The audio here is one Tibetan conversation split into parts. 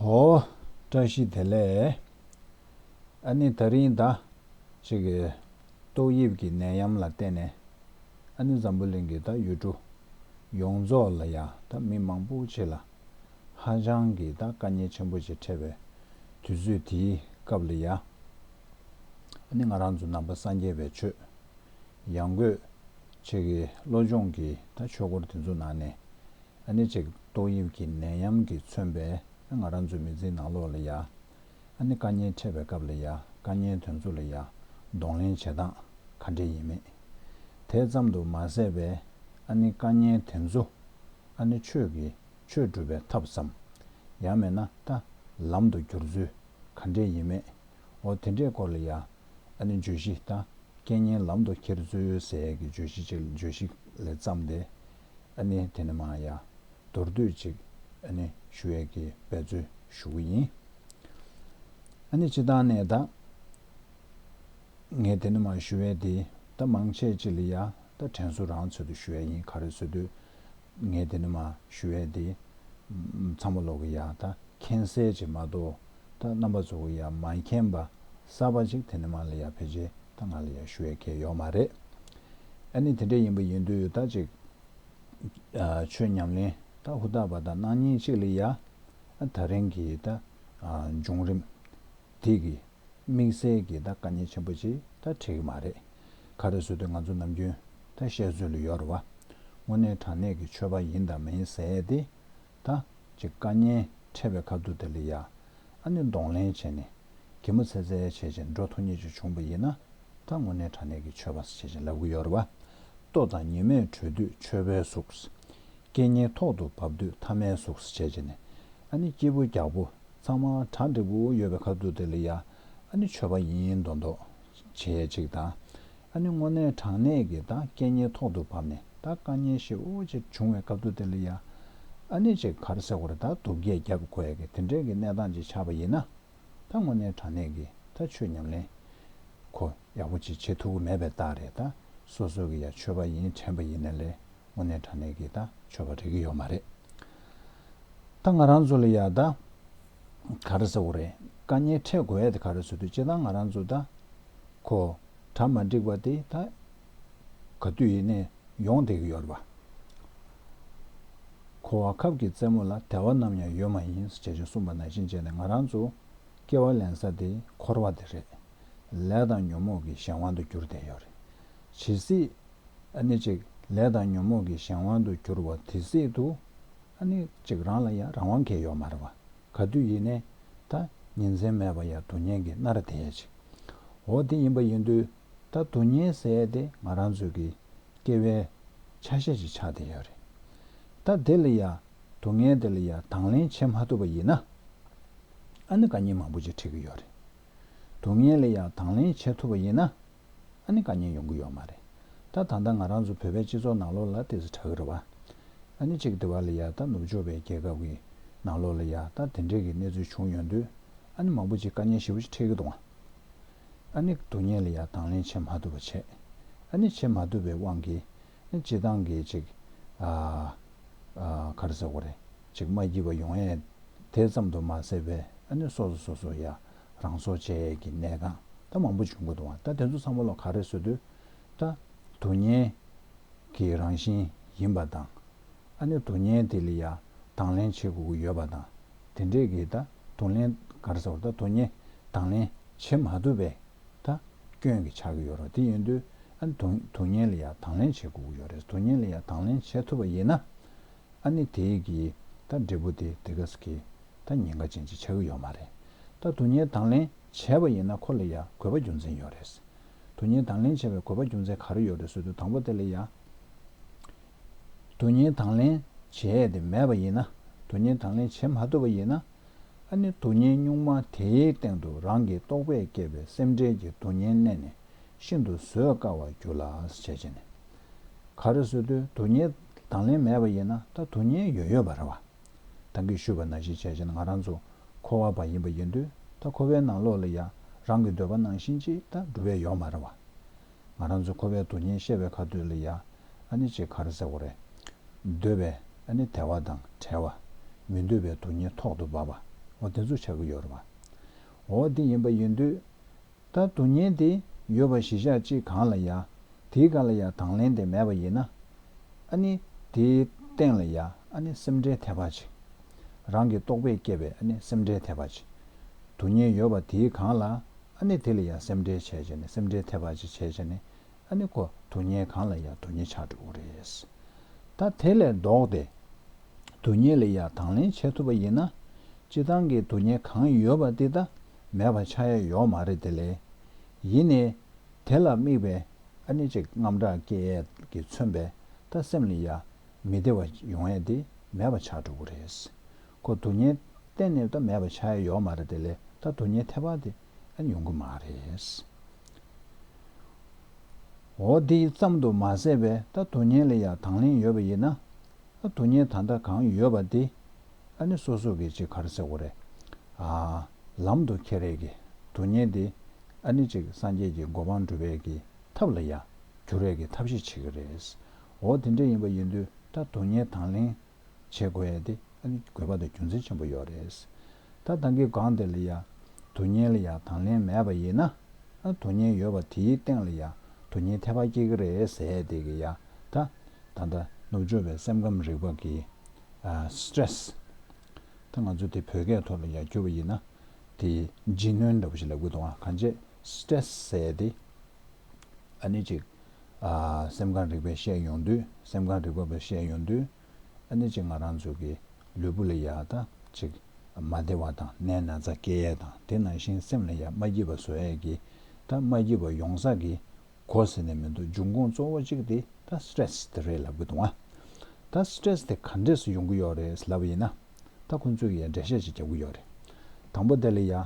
ཧོ། བཀྲ་ཤིས་བདེ་ལེགས། ཨ་ནི་ད་རིང་ད། ཅིག་གི། ཏོག་དབྱིབས་ཀྱི་ནད་ཡམས་ལ་བརྟེན་ནས། ཨ་ནི་འཛམ་བུ་གླིང་གི་ད་ཡུལ་གྲུ། ཡོངས་རྫོགས་ལ་ཡང་ད་མི་མང་པོ་ཆེ་ལ། ཧ་ཅང་གི་ད་དཀའ་ཉེན་ཆེན་པོ་ཆེ་འཕྲད་པའི། དུས་ཚོད་དེའི་སྐབས་ལ་ཡང། ཨ་ནི་ང་རང་ཚོ་ནང་པ་སངས་རྒྱས་པའི་ཆོས། ཡང་སྒོས། ཅིག་གི་བློ་སྦྱོང་གི་ད་ཆོས་སྐོར་དེ་ཚོ་ནང་ནས། ཨ་ནེ་ཅིག་ཏོག་དབྱིབས་ཀྱི་ནད་ཡམས་ཀྱིས་མཚོན་པས་ཨ་ང་རང་ཚོའི་མི་ཚེའི་ནང་ལོག་ལ་ཡ། ཨ་ནེ་དཀའ་ཉེན་འཕྲད་པའི་སྐབས་ལ་ཡ་དཀའ་ཉེན་དོན་ཚུགས་ལ་ཡ་གདོང་ལེན་བྱེད་སྟངས་ག་འདྲས་ཡིན་མེད་དེ་ཙམ་དུ་མ་ཟད་པའི་ཨ་ནེ་དཀའ་ཉེན་དེ་ཚོ་ཨ་ནེ་ཆོས་ཀྱི་ཆོས་སྒྲུབ་པའི་ཐབས་སམ་ཡང་མེད་ན་ལྟ་ལམ་དུ་འགྱུར་ཚུལ་ག་འདྲས་ཡིན་མེད་འོ་དེ་འདྲའི་སྐོར་ལ་ཡ་ཨ་ནེ་བརྗོད་གཞི་ལྟ་སྐད་སྙན་ལམ་དུ་འཁྱེར་ཚུལ་ཟས་ཀྱི་བརྗོད་གཞི་ཅིག་བརྗོད་གཞི་ལས་བརྩམས་ཏེ་ཨ་ནི་དེ་ནི་མ་ཡ། མདོར་བསྡུས་ཅིག། ཨ་ནི་ཞུ་ཡས་ཀྱི་འབད་རྩོལ་ཞུ་གི་ཡིན། ཨ་ནི་སྤྱི་བཏང་ནས་ད། ངས་དེ་ནི་མ་ཞུ་ཡས་དེ་ད་མང་ཆེ་ཅི་ལི་ཡ་ད་དྲན་གསོ་རང་ཚོད་དུ་ཞུ་ཡས་ཡིན་ག་རེ་གསོད་དུས། ངས་དེ་ནི་མ་ཞུ་ཡས་དེ། ཚང་མ་ལོག་གི་ཡ་ད་མཁྱེན་གསལ་ཅིག་མ་གཏོགས་ད་རྣམ་པ་ཚོ་གི་ཡ་མ་མཁྱེན་པ་གསར་པ་ཅིག་དེ་ནི་མ་ལི་ཡ་ཕལ་ཆེར་ད་ང་ལ་ཡག་ཤོས་ཡོད་མཁན་ཡོད་མ་རེད། ཨ་ནི་དེ་འདྲ་ཡིན་པ་ཡིན་དུས་ད་ཅིག་ཆོས་ཉམས་ལེན་ད་ཧུར་ཐག་པ་ད་གནང་ཉིན་གཅིག་ལ་ཡ། ད་རིང་གི་ད་བྱུང་རིམ་དེ་གི་དམིགས་བསལ་གི་ད་དཀའ་ཉེན་ཆེན་པོ་ཅིག་ད་འཕྲད་གི་མ་རེད། ཁ་རེ་སོ་དུས་ང་ཚོ་ནམ་རྒྱུན་ད་བཤད་ཚུལ་ལ་ཡོར་བ་དངོས་གནས་དྲང་གནས་གི་ཆོས་པ་ཡིན་དང་མ་ཡིན་ཟེར་ཏེ་ད། ཅེས་བཀའ་ཉན། ཕྲད་པའི་ཁ་བསྡུ་དེ་ལ་ཡ། ཨ་ནི་གདོང་ལེན་བྱས་ནས། གད་མོ་ཚེ་ཚད་ཡ་བྱས་ཅིང་འགྲོ་ཐོ་ཉེ་བཅུ་བྱུང་བ་ཡིན་ན། ད་དངོས་གནས་དྲ་གནས་ཀྱི་ཆོས་པ་ས་བྱེད་ཅིང་ལབ་གི་ཡོད་རེད་བ། ལྟོ་དང་ཉི་མས་དྲོས་དུས་ཆོས་པའི་གཟུགས། སྐད་སྙན་ཐོག་ཏུ་བབས་དུས་ཐ་མའི་གཟུགས་ས་བྱེད་ཅིང་ནས། ཨ་ནི་སྐྱིད་པོ་རྒྱག་པོ། ཚང་མ་གྲ་འགྲིག་པོ་ཡོད་པའི་ཁ་བསྡུ་དེ་ལ་ཡ། ཨ་ནི་ཆོས་པ་ཡིན་མདོག་མདོག། བྱེད་ཅིག་དང། ཨ་ནི་སྔོ་ནད་གྲང་ནད་ཀྱིས་ད་སྐད་ཉལ་ཐོག་ཏུ་བབས་ནས་ད་དཀའ་ཉེན་ཞིག་འོ་ཅེས་བྱུང་བའི་སྐབས་དུ་དེ་ལ་ཡ། ཨ་ནི་ཅིག་གར་སེ་བར་ད་དུག་རྒྱས་བརྒྱབ་དགོས་ཡ་གི་དེ་འདྲའི་གི་གནས་སྟངས་ཅིག་ཆགས་པ་ཡིན་ན། ད་སྔོ་ནད་གྲང་ནད་ཀྱིས་ད་ཆོས་ཉམས་ལེན། ཁོ། ཡག་པོ་ཅིག་བྱེད་ཐུབ་ཀི་མེད་པའི་རྟགས་རེད་ད་སོ་སོས་གི་ཡ་ཆོས་པ་ཡིན་དྲན་པ་ཡིན་ན་ལས་སྔོ་ནད་གྲང་ནད་ཀྱིས་ད་ཆོས་པ་རེག་གི་ཡོད་མ་རེད། ད་ང་རང་ཚོ་ལ་ཡ་ད་གར་སེ་བར་དཀའ་ཉེན་འཕྲད་དགོས་ཡ་དེ་ག་རེ་བཟོ་དུས་བྱེད་ད་ང་རང་ཚོ་ད། གོ། གྲ་མ་འགྲིག་པ་དེ་ད་ག་དུས་ཡིན་ནས་ཡོང་བསྡད་ཀྱི་ཡོད་རེད་པ། གོ་བ་ཁབ་ཀྱི་རྩེད་མོ་ལ་དལ་བ་ནམ་ཡང་ཡོད་མ་ཡིན་ཞེས་ཅེ་གསུངས་པ་ནང་བཞིན་བྱས་ནས་ང་རང་ཚོ་སྐྱེ་བ་ལེན་ས་དེ་འཁོར་བ་དེ་རེད། ལས་དང་ཉོན་མོངས་ཀྱི་གཞན་དབང་དུ་གྱུར་བསྡད་ཡོད་རེད། ཇི་སྲིད། ནི་ཅིག་ལས་དང་ཉོན་མོངས་ཀྱི་གཞན་དབང་དུ་གྱུར་བ་དེ་སྲིད་དུ། ནི་ཅིག་རང་ལ་ཡང་རང་དབང་གལ་ཡོད་མ་རེད་པ། ག་དུས་ཡིན་ནའི་ད་ཉིན་མཚན་མེད་པ་ཡ་དུ་ཉན་གི་སྣ་ར་དེད་ཅིག་འོ་དེ་ཡིན་པ་ཡིན་དུས་ད་དུ་ཉན་ཟེ་དེ་ང་རང་ཚོའི་གི་སྐྱེ་བའི་ཆ་ཤས་ཅིག་ཆགས་དེ་ཡོད་རེད་ད་དེ་ལ་ཡ་དུ་ངས་དེ་ལ་ཡ་དང་ལེན་བྱེད་མ་ཐུབ་པ་ཡིན་ན་ཨ་ནི་ག་ཉིན་མང་པོ་ཅིག་ཁྲིད་གི་ཡོད་རེད་དུ་ངས་ལ་ཡ་དང་ལེན་བྱེད་ཐུབ་པ་ཡིན་ན། ཨ་ནི་དཀའ་ཉེན་ཡོང་གི་ཡོད་མ་རེད་ད། ད་ལྟ་ང་རང་ཚོ་བོད་པའི་སྤྱི་ཚོགས་ནང་ལོགས་ལ་དེ་ཚོ་གྲག་གི་རེད་བ། ཨ་ནི་ཅིག་དེ་བ་ལ་ཡག་ད་ནུབ་ཕྱོགས་པའི་རྒྱལ་ཁབ་ཀྱི་ནང་ལོགས་ལ་ཡག་ད་དེ་འདྲས་ཀྱི་གནས་ཚུལ་བྱུང་ཡོང་དུས་ཨ་ནི་མང་པོ་ཅིག་དཀའ་ཉེན་ཞེ་བོ་ཅིག་འཕྲད་ཀྱི་འདུག་བ། ཨ་ནི་དུ་ཉེ་ལ་ཡག་དང་ལེན་བྱེད་མ་ཐུབ་པ་བྱས། ཨ་ནི་བྱེད་མ་ཐུབ་པའི་དབང་གིས་ཨ་ནི་སྤྱི་བཏང་གི་ཅིག་ཨ་ཁར་ཟེར་བ་རེད་ཅིག་མ་བགྱིས་པ་ཡོང་ཨེ། དེ་ཙམ་དུ་མ་ཟེར་བས་ཨ་ནི་སོ་སོ་སོ་སོ་ཡག་རང་སྲོག་བཅད་ཡས་ཀྱི་གནས་གང་ད་མང་པོ་བྱུང་དགོས་འདུག་ད་དེ་ཚོ་ཚང་མ་ལོ་ག་རེ་བཟོས་དུས་ད་དུག་བརྙན་གྱི་རང་བཞིན་ཡིན་པ་དང་ཨ་ནི་དུག་བརྙན་དེ་ལ་ཡ་དང་ལེན་བྱེད་དགོས་ཀྱི་ཡོད་པ་དང་དེ་འདྲས་ཀྱི་ད་དུག་ལེན་ག་རེ་ཟེར་བ་ད་དུག་བརྙན་དང་ལེན་བྱེད་མ་ཐུབ་པས་ད་སྐྱོན་གྱི་ཆགས་ཀྱི་ཡོད་རོགས་དེ་ཡིན་དུས་ཨ་ནི་དུག་བརྙན་ལ་ཡ་དང་ལེན་བྱེད་དགོས་ཀྱི་ཡོད་རེད་དུག་བརྙན་ལ་ཡ་དང་ལེན་བྱེད་ཐུབ་པ་ཡིན་ན་ཨ་ནི་དེས་ཀྱི་ད་འབྲས་བུ་དེ་དེ་ག་ས་གི་ད་ཉེན་ཁ་ཅན་གྱི་ཆགས་ཀྱི་ཡོད་མ་རེད། ད་དུ་ཉེན་དང་ལེན་བྱས་པ་ཡིན་ན་ཁོ་ལ་ཡང་གོད་པ་རྒྱུ་མཚན་ཡོད་རེད། དུ་ཉེན་དང་ལེན་བྱས་པའི་གོད་པ་རྒྱུ་མཚན་ག་རེ་ཡོད་རེད་ཟོས་དུས་དང་པོ་དེ་ལ་ཡང་དུ་ཉེན་དང་ལེན་བྱས་ཏེ་མེད་པ་ཡིན་ན་དུ་ཉེན་དང་ལེན་བྱེད་མ་ཐུབ་པ་ཡིན་ན་ཨ་ནི་དུ་ཉེན་གཉུག་མ་དེའི་སྟེང་དུ་རང་གི་རྟོག་པས་བསྐྱེད་པའི་སེམས་ཁྲལ་གྱི་དུ་ཉེན་བསྣན་ནས་ཤིན་ཏུ་བཟོད་དཀའ་བ་རྒྱུ་ལ་བྱས་རྗེས་ནས་ག་རེ་ཟོས་དུས་དུ་ཉེན་དང་ལེན་མེད་པ་ཡིན་ན་ད་དུ་ཉེན་ཡོད་ཡོད་པ་རེད་བ། དང་གིས་ཞུས་པ་ན་གཞི་བྱས་བཞིན་ང་རང་ཚོ་འཁོར་བ་པ་ཡིན་པ་ཡིན་དུས་ད་འཁོར་བའི་ནང་ལོགས་ལ་ཡང་རང་གི་འདོད་པ་ནང་བཞིན་ཅིག་ད་འགྲུབ་བས་ཡོག་མ་རེད་བ། ང་རང་ཚོ་འཁོར་བའི་དུག་ཉེན་ཤེས་བས་ཁ་ཐུག་ལ་ཡང་ཨ་ནི་ཅིག་གར་ཟེར་བ་རེད། འདོད་པས་ཨ་ནི་དལ་བ་དང་བྲལ་བ། མི་འདོད་པའི་དུག་ཉེན་ཐོག་ཏུ་བབས་པ་འོ་དེ་ཚོ་ཆགས་ཀྱི་ཡོད་རེད་བ། འོ་དེ་ཡིན་པ་ཡིན་དུས། ད་དུ་ཉན་ཏེ་ཡོད་པ་ཞི་ཤག་ཅིག་གང་ལ་ཡ། དེའི་ག་ལ་ཡ་དང་ལན་དེ་མེད་པ་ཡིན་ན། ཨ་ནི་དེའི་སྟེང་ལ་ཡ་ཨ་ནི་སེམས་ཁྲལ་ཐེབས་པ་ཅིག། རང་གི་རྟོག་པས་བསྐྱེད་པའི་ཨ་ནི་སེམས་ཁྲལ་ཐེབས་པ་ཅིག། དུ་ཉན་ཡོད་པ་དེའི་གང་ལ་ཨ་ནི་དེ་ལ་ཡ་སེམས་ཁྲལ་བྱས་བྱས་ནས་སེམས་ཁྲལ་ཐེབས་པ་ཅིག་བྱས་བྱས་ནས་ཨ་ནི་ཁོ་དུ་ཉེ་གང་ལ་ཡང་དུ་ཉེ་ཆགས་འགྲོ་གི་རེད། ད་དེ་ལས་ལྡོག་སྟེ། དུ་ཉེ་ལ་ཡང་དང་ལེན་བྱེད་ཐུབ་པ་ཡིན་ན། སྤྱི་བཏང་གི་དུ་ཉེ་གང་ཡོད་པ་དེ་ད་མེད་པ་ཆགས་ཡ་ཡོད་མ་རེད་དེ་ལས། ཡིན་ནའི། དེ་ལ་དམིགས་པའི་ཨ་ནི་ཅིག་རྔམ་སྐྲག་སྐྱེ་ཡས་ཀྱི་མཚོན་པའི་ད་སེམས་ལ་ཡ། མི་བདེ་བ་ཡོང་ཡས་དེ་མེད་པ་ཆགས་འགྲོ་གི་རེད། ཁོ་དུ་ཉེ་གཏན་ནས་ད་མེད་པ་ཆགས་ཡ་ཡོད་མ་རེད་དེ་ལས་ད་དུ་ཉེ་ཐེ་བ་དེ། ཡོང་གི་མ་རེད། འོ་དེ་ཙམ་དུ་མ་ཟད་པའི་ད་དུ་ཉན་ལེ་ཡག་དང་ལེན་ཡོད་པ་ཡིན་ན། དུ་ཉན་ད་ལྟ་གང་ཡོད་པ་དེ་ནི་སོ་སོ་གི་ཅིག་གར་སེ་གོ་རེ། ལམ་དུ་ཁྱེད་རེ་གི་དུ་ཉན་དེ་ནི་ཅིག་སངས་རྒྱས་ཀྱི་གོ་འཕང་འགྲུབ་པའི་གི་ཐབས་ལ་ཡག་རྒྱུ་རེ་གི་ཐབས་ཤེས་བྱེད་གི་རེད། འོ་དེ་འདྲ་ཡིན་པ་ཡིན་དུས་ད་དུ་ཉན་དང་ལེན་བྱེད་དགོས་ཡས་དེ་ཨ་ནི་དགོས་པ་དང་རྒྱུ་མཚན་ཆེན་པོ་ཡོད་རེད། ད་ཐང་གི་སྒང་དེ་ལ་ཡ། དུ་བརྙན་ལ་ཡ་དང་ལེན་མེད་པ་ཡིན་ན། ཨ་དུ་བརྙན་ཡོད་པ་དེའི་སྟེང་ལ་ཡ། དུ་བརྙན་ཐེ་བ་སྐྱེ་གི་རེད་ཟེ་དེ་གི་ཡ། ད། ད་ལྟ་ནུབ་ཕྱོགས་པའི་སེམས་ཁམས་རིག་པ་གི། Stress། ད་ང་ཚོ་དེ་བོད་སྐད་ཐོག་ལ་ཡ་བསྒྱུར་བ་ཡིན་ན། དེ་ལྗིད་སྣོན་འདྲ་པོ་ཞིག་ལ་དགོས་འདུག་ང་གང་བྱས Stress ཟེ་དེ། ཨ་ནི་ཅིག། སེམས་གང་རིག་པའི་ཤས་ཡོངས་འདུས། སེམས་གང་རིག་པ་པའི་ཤས་ཡོངས་འདུས། ཨ་ནི་ཅིག་ང་རང་ཚོ་གི་ལུས་པོ་ལ་ཡ་དང་ཅིག། མ་བདེ་བ་དང་ནད་ན་ཚ་སྐྱེ་ཡས་དང་དེ་ནང་བཞིན་སེམས་ལ་ཡ་མ་སྐྱིད་པ་བཟོ་ཡས་ཀྱི་ད་མ་སྐྱིད་པ་ཡོང་ས་གི་གོ་ཟེར་ནས་མི་འདུག་འབྱུང་ཁུངས་གཙོ་བོ་གཅིག་དེ་ད Stress དེ་རེད་ལབ་གི་འདུག་ང་ད Stress དེ་ག་འདྲས་སུ་ཡོང་གི་ཡོག་རེད་ལབ་ཡིན་ན་ད་ཁོང་ཚོས་ཡ་འགྲེལ་བཤད་ཅིག་རྒྱབ་གི་ཡོག་རེད་དང་པོ་དེ་ལ་ཡ།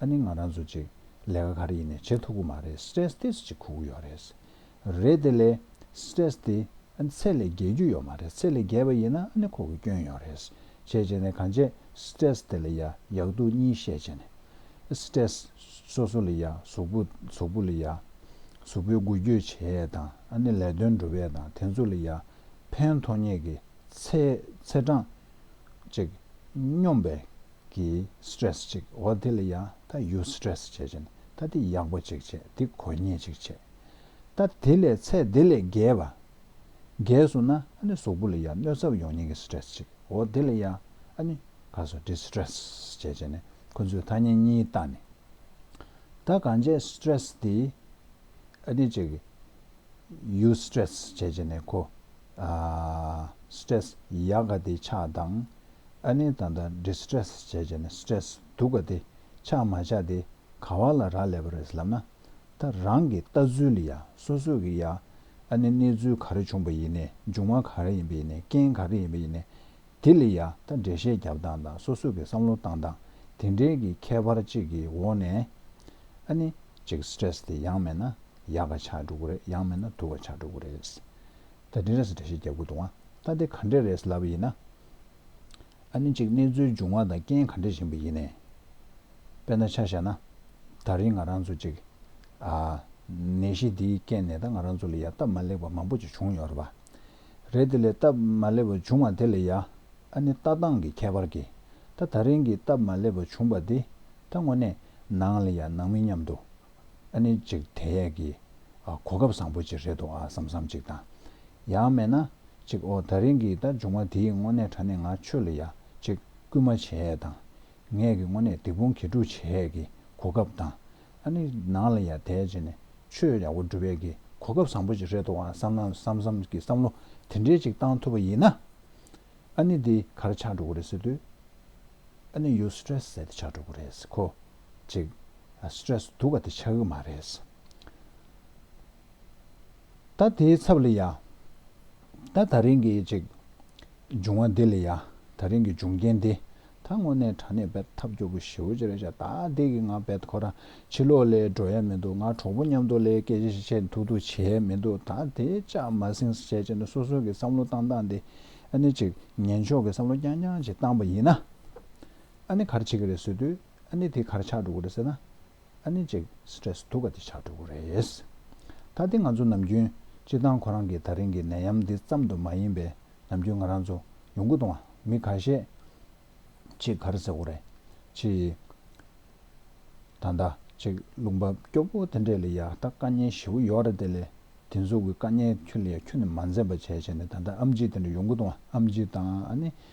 ཨ་ནི་ང་རང་ཚོ་ཅིག་ལས་ཀ་ག་རེ་ཡིན་ནས་བྱེད་ཐུབ་གི་མ་རེད stress test ཅིག་ཁུག་གི་ཡོད་རེད། རེད་དེ་ལས stress དེ་ཨ་ནི་ཚད་ལས་བརྒལ་རྒྱུ་ཡོད་མ་རེད་ཚད་ལས་བརྒལ་བ་ཡིན་ན་ཨ་ནི་ཁོག་གི་སྐྱོན་ཡོད་རེད། བྱས་བྱས་ནས་གང་བྱས stress དེ་ལ་ཡ་ཡག་སྡུག་གཉིས་བཤད་བྱས་ནས། stress སོ་སོ་ལ་ཡ་ཟོག་པོ་ཟོག་པོ་ལ་ཡ་ཟོག་པོའི་འགུལ་སྐྱོད་བྱས་ཡས་དང་ཨ་ནི་ལས་དོན་འགྲུབ་ཡས་དང་དེ་ཚོ་ལ་ཡ་ཕན་ཐོགས་ངེས་ཀྱི་ཚད་ཚད་གྲངས་ཅིག་སྙོམས་པའི་གི stress ཅིག་འོ་དེ་ལ་ཡང་ད་ཡུ stress བྱས་བྱས་ན་ད་དེ་ཡག་པོ་ཅིག་བྱས་དེ་གོ་ཉེས་ཅིག་བྱས་ད་དེ་ལས་ཚད་དེ་ལས་བརྒལ་བ་བརྒལ་སོང་ན་ཨ་ནི་ཟོག་པོ་ལ་ཡང་གནོད་ཚབ་ཡོང་ཉེས་ཀྱི stress ཅིག་འོ་དེ་ལ་ཡང་ཨ་ནི་ག་སོ་དེ stress བྱས་བྱས་ན་ཁོ་ཚོས་ཐ་སྙད་གཉིས་བཏགས་ནས་ད་གང་བྱས stress དེ་ཨ་ནི་ཅིག་ཡུ stress བྱས་བྱས་ན་ཁོ stress ཡག་ག་དེ་ཆགས་དང། ཨ་ནེ་ད་ལྟ Distress བྱས་བྱས་ནས Stress འདུག་ག་དེ་ཆགས་མ་ཆགས་དེ་ག་བ་ལ་རག་ལས་པ་རེད་ལབ་ན། ད་རང་གི་ལྟ་ཚུལ་ཡ་སོ་སོ་གི་ཡ་ཨ་ནེ་གནས་ཚུལ་ག་རེ་བྱུང་བ་ཡིན་ནས་འབྱུང་བ་ག་རེ་ཡིན་པ་ཡིན་ནས་རྐྱེན་ག་རེ་ཡིན་པ་ཡིན་ནས་དེ་ལ་ཡ་ད་འགྲེལ་བཤད་རྒྱབ་སྟངས་དང་སོ་སོ་གི་བསམ་བློ་བཏང་སྟངས་དེ་འདྲའི་གི་ཁྱད་པར་གཅིག་གི་འོག་ནས་ཨ་ནེ་ཅིག Stress དེ་ཡང་མེད་ན་ཡག་ག་ཆགས་འགྲོ་གི་རེད་ཡང་མེད་ན་སྡུག་ག་ཆགས་འགྲོ་གི་རེད། ད་དྲིན་རེད་ས་དྲི་ཞེས་རྒྱབ་དགོས་འདུག་ང་ལྟ་དེ་ག་འདྲས་རེད་ས་ལབ་ཡིན་ན། ཨ་ནི་གཅིག་གནས་ཚུལ་འབྱུང་བ་དང་རྐྱེན་ག་འདྲས་བཞིན་པ་ཡིན་ནས། དཔེ་ན་ཆ་བཞག་ན། ད་རིང་ང་རང་ཚོ་གཅིག། ཨ། ནད་གཞི་འདིའི་རྐྱེན་ནས་ད་ང་རང་ཚོ་ལ་ཡ་སྟབས་མ་ལེགས་པ་མང་པོ་ཅིག་བྱུང་ཡོད་རེད་པ། རེད་དེ་ལས་སྟབས་མ་ལེགས་པ་བྱུང་བ་དེ་ལས་ཡ། ཨ་ནི་ལྟ་སྟངས་ཀྱི་ཁྱད་པར་གྱིས། ད་ད་རིང་གི་སྟབས་མ་ལེགས་པ་བྱུང་བ་འདི། ད་དངོས་གནས། ནང་ལ་ཡ་ནང་མི་མཉམ་དུ། ཨ་ནི་ཅིག་དེ་ཡས་ཀྱི། གོ་སྐབས་བཟང་པོ་ཅིག་རེད་འདུག་ཨ་བསམ་བསམ་ཅིག་དང། ཡང་མེད་ན། ཅིག་ཨོ་ད་རིང་གི་ད་འབྱུང་བ་དེའི་དངོས་གནས་དྲ་གནས་ང་ཆོས་ལ་ཡ་ཅིག་སྐུལ་མ་བྱས་ཡས་དང། ངས་ཀྱི་དངོས་གནས་སྡིག་སྤོང་གྱེས་དཀྲུགས་བྱས་ཡས་ཀྱི་གོ་སྐབས་དང། ཨ་ནི་ནང་ལ་ཡ་དད་བྱས་ནས་ཆོས་ཡག་པོ་སྒྲུབ་ཡས་ཀྱི་གོ་སྐབས་བཟང་པོ་ཅིག་རེད་འདུག་ཨ་བསམ་ན་བསམ་བསམ་ཀྱི་བསམ་བློ་དེ་འདྲས་ཅིག་བཏང་ཐུབ་པ་ཡིན་ན། ཨ་ནི་འདི་གར་ཆགས་འགྲོ་གི་རེད་ཟེར་དུས། ཨ་ནི་ཡུལ་སི་ཏྲེ་སི་ཟད་དེ་ཆགས་འགྲོ་གི་རེད་ཟེར་གོ། ཅིག། Stress། དུ་བ་དེ་ཆགས་ཀྱི་མ་རེད། ད་དེའི་ཚབ་ལ་ཡ། ད་ད་རིང་གི་ཅིག། འབྱུང་བ་འདི་ལ་ཡ། ད་རིང་གི་འབྱུང་རྐྱེན་འདི། ད་དངོས་གནས་དྲ་གནས་བེད་ཐབས་སྐྱོ་པོ་ཞེའུ་ཅི་རེད་བྱ་ད་དེ་གི་ང་བེད་ཁོ་རང་ཕྱི་ལོག་ལས་འགྲོ་ཡ་མི་འདུག་ང་གྲོགས་པོ་མཉམ་དུ་ལས་སྐད་ཆ་ཤེས་བྱས་མཐུག་མཐུག་བྱས་མི་འདུག་ད་དེ་ཅག་མ་བསྲིང་བྱས་བྱས་ནས་སོ་སོ་གི་བསམ་བློ་བཏང་བཏང་དེ། ཨ་ནི་ཅིག། ངན་ཕྱོགས་གི་བསམ་བློ་རྐྱང་རྐྱང་ཅིག་བཏང་བ་ཡིན་ན། ཨ་ནི་གར་བྱེད་ཀྱི་རེད་ཟེར་དུས་ཨ་ནི་དེ་གར་ཆགས་འགྲོ་གི་རེད་ཟེར་ན། ཨ་ནི་ཅིག Stress དུག་ག་དེ་ཆགས་འགྲོ་གི་རེད། ད་དེ་ང་ཚོ་ནམ་རྒྱུན་སྤྱིར་བཏང་ཁོ་རང་གི་ད་རིང་གི་ནད་ཡམས་འདི་ཙམ་དུ་མ་ཡིན་པས་ནམ་རྒྱུན་ང་རང་ཚོ་ཡོང་ཁུ་དང་མི་ག་ཤས་ཅིག་གར་ཟེར་གོ་རེད་ཅི་ཡི། ད་ཟླ་ཅིག་རླུང་བབས་སྐྱོ་པོ་དེ་འདྲས་ལས་ཡག་ད་དཀའ་ཉེན་བཞི་བོ་ཡོག་རེད་དེ་ལས་དེ་ཚོ་གི་དཀའ་ཉེན་ཁྱོད་ལ་ཡ་ཁྱོད་ནི་མ་འཛེམ་པ་བྱས་བྱས་ནས་ད་ཟླ་ཨམ་ཅིག་དེ་འདྲས་ཡོང་ཁུ་དང་ཨམ་ཅིག་དང་ཨ་ནི་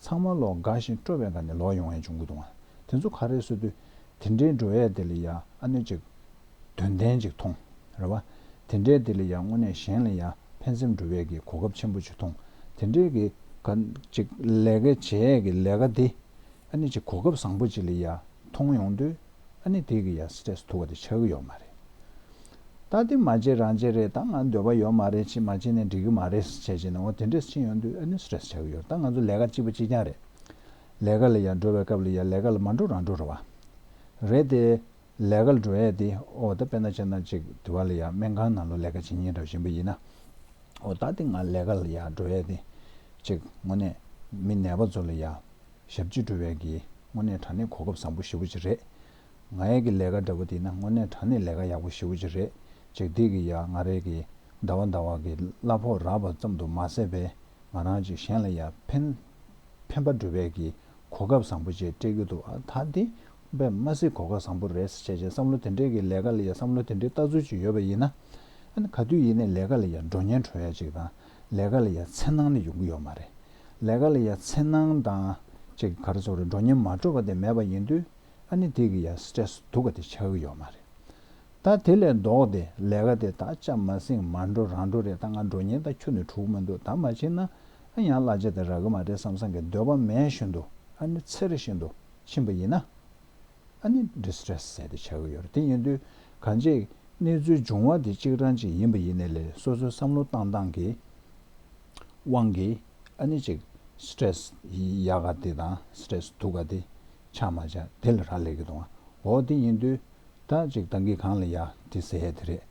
ཚང་མ་ལོག་དགའ་ཞིང་སྤྲོ་བས་དགའ་ནས་ལོག་ཡོང་ཡས་བྱུང་གི་འདུག་ང་དེ་ཚོ་ག་རེ་སུ་དུ་དེ་འདྲའི་འགྲོ་ཡས་དེ་ལ་ཡ་ཨ་ནུ་ཅིག་དོན་ལྡན་ཅིག་མཐོང་རེ་བ་དེ་འདྲའི་དེ་ལ་ཡ་དངོས་གནས་གཞན་ལ་ཡ་ཕན་སེམས་འགྲོ་བས་ཀྱི་གོ་སྐབས་ཆེན་པོ་ཅིག་མཐོང་དེ་འདྲའི་གི། ག་ཅིག་ལས་ཀ་བྱེད་ཡས་ཀྱི་ལས་ཀ་དེ་ཨ་ནུ་ཅིག་གོ་སྐབས་བཟང་པོ་ཅིག་ལ་ཡ། མཐོང་ཡོང་དུས་ཨ་ནི་དེ་གི་ཡང stress ཐུག་བ་དེ་ཆགས་ཀྱི་ཡོད་མ་རེད། ད་དེ་མ་བྱེད་རང་བྱེད་རེད་ད་ང་འདོད་པ་ཡོད་མ་རེད་ཕྱི་མ་བྱེད་ནས་འགྲིག་གི་མ་རེད་བྱས་བྱས་ནས་འོ་དེ་འདྲས་ཕྱིན་ཡོང་དུས་ཨ་ནི stress ཆགས་ཀྱི་ཡོད་ད་ང་ཚོ་ལས་ཀ་གཅིག་པ་གཅིག་རྐྱང་རེད། ལས་ཀ་ལ་ཡང་འགྲོ་བའི་སྐབས་ལ་ཡང་ལས་ཀ་ལ་མ་འགྲོ་རང་འགྲོ་ར་བ་རེད་དེ། ལས་ཀ་ལ་འགྲོ་ཡས་དེ་འོ་ད་དཔེ་ན་བྱས་ན་ཅིག་དུས་བ་ལ་ཡང་སྨན་ཁང་ནང་ལོ་ལས་ཀ་བྱེད་ཉིན་རེ་བ་བཞིན་པ་ཡིན་ན། འོ་ད་དེ་ང་ལས་ཀ་ལ་ཡང་འགྲོ་ཡས་དེ། ཅིག་ངོ་ནས་མི་ནད་པ་ཚོ་ལ་ཡང་ཞབས་རྗེས་འགྲོ་བའི་གི་དངོས་གནས་དྲ་གནས་གོ་སྐབས་བཟང་པོ་ཞེ་བོ་ཅིག་རེད། ང་ཡས་གི་ལས་ཀ་འདྲ་པོ་དེ་ན་དངོས་གནས་དྲ་གནས་ལས་ཀ་ཡག་པོ་ཞེ་བོ་ཅིག་རེད་ཅེག་དེ་གི་ཡ་ང་རས་གི་ཟླ་བ་ཟླ་བ་གི་གླ་ཕོགས་རག་པ་ཙམ་དུ་མ་ཟད་པས་ང་རང་ཅིག་གཞན་ལ་ཡ་ཕན་ཕན་པ་འགྲོ་བའི་གི་གོ་སྐབས་བཟང་པོ་ཅིག་སྤྲད་གི་འདུག་ཨ་ད་དེ་བས་མ་སྲིད་གོ་སྐབས་བཟང་པོ་རེད་བྱས་བྱས་བསམ་བློ་དེ་འདྲས་གི་ལས་ཀ་ལ་ཡ་བསམ་བློ་དེ་འདྲས་ལྟ་ཚུལ་ཅིག་ཡོད་པ་ཡིན་ན་ཨ་ན་ག་དུས་ཡིན་ནས་ལས་ཀ་ལ་ཡ་འགྲོ་ཉན་གྲོ་ཡ་ཅིག་དང། ལས་ཀ་ལ་ཡ་མཚན་སྣང་ནི་ཡོང་གི་ཡོད་མ་རེད། ལས་ཀ་ལ་ཡ་མཚན་སྣང་དང་ཅིག་གར་ཚོར་འགྲོ་ཉེན་མ་སྤྲོ་བ་དེ་མེད་པ་ཡིན་དུས་ཨ་ནི་དེ་གི་ཡ stress སྡུག་ག་དེ་ཆགས་གི་ཡོད་མ་རེད། ད་དེ་ལས་ལྡོག་སྟེ་ལས་ཀ་དེ་ད་ཅག་མ་སེང་མ་འགྲོ་རང་འགྲོ་རེད་ད་ང་འགྲོ་ཉེན་ད་ཁྱོ་ནི་དྲུག་མ་འདུག་ད་མ་ཕྱིན་ན་ཨ་ཡང་གླ་ཆ་དེ་རག་གི་མ་རེད་བསམ་བསམ་གི་འདོད་པ་མེད་བཞིན་དུ་ཨ་ནི་ཚེར་བཞིན་དུ་ཕྱིན་པ་ཡིན་ན། ཨ་ནི Distress ཟེར་ཏེ་བྱ་གི་ཡོད་རེད་དེ་ཡིན་དུས་གང་ཅིག་གནས་ཚུལ་འབྱུང་བ་དེ་གཅིག་རང་ཅིག་ཡིན་པ་ཡིན་ནི་ལས་སོ་སོའི་བསམ་བློ་བཏང་སྟངས་ཀྱི་དབང་གིས་ཨ་ནི་ཅིག Stress ཡ་ག་དེ་དང Stress དུག་ག་དེ་ཆགས་མ་ཆགས་དེ་ལ་རག་ལས་ཀྱི་འདུག་ཨོ་དེ་ཡིན་དུས་ད་ཅིག་ད་གིས་གང་ལ་ཡ་དེ་ཟེར་ཡ་དེ་རེད་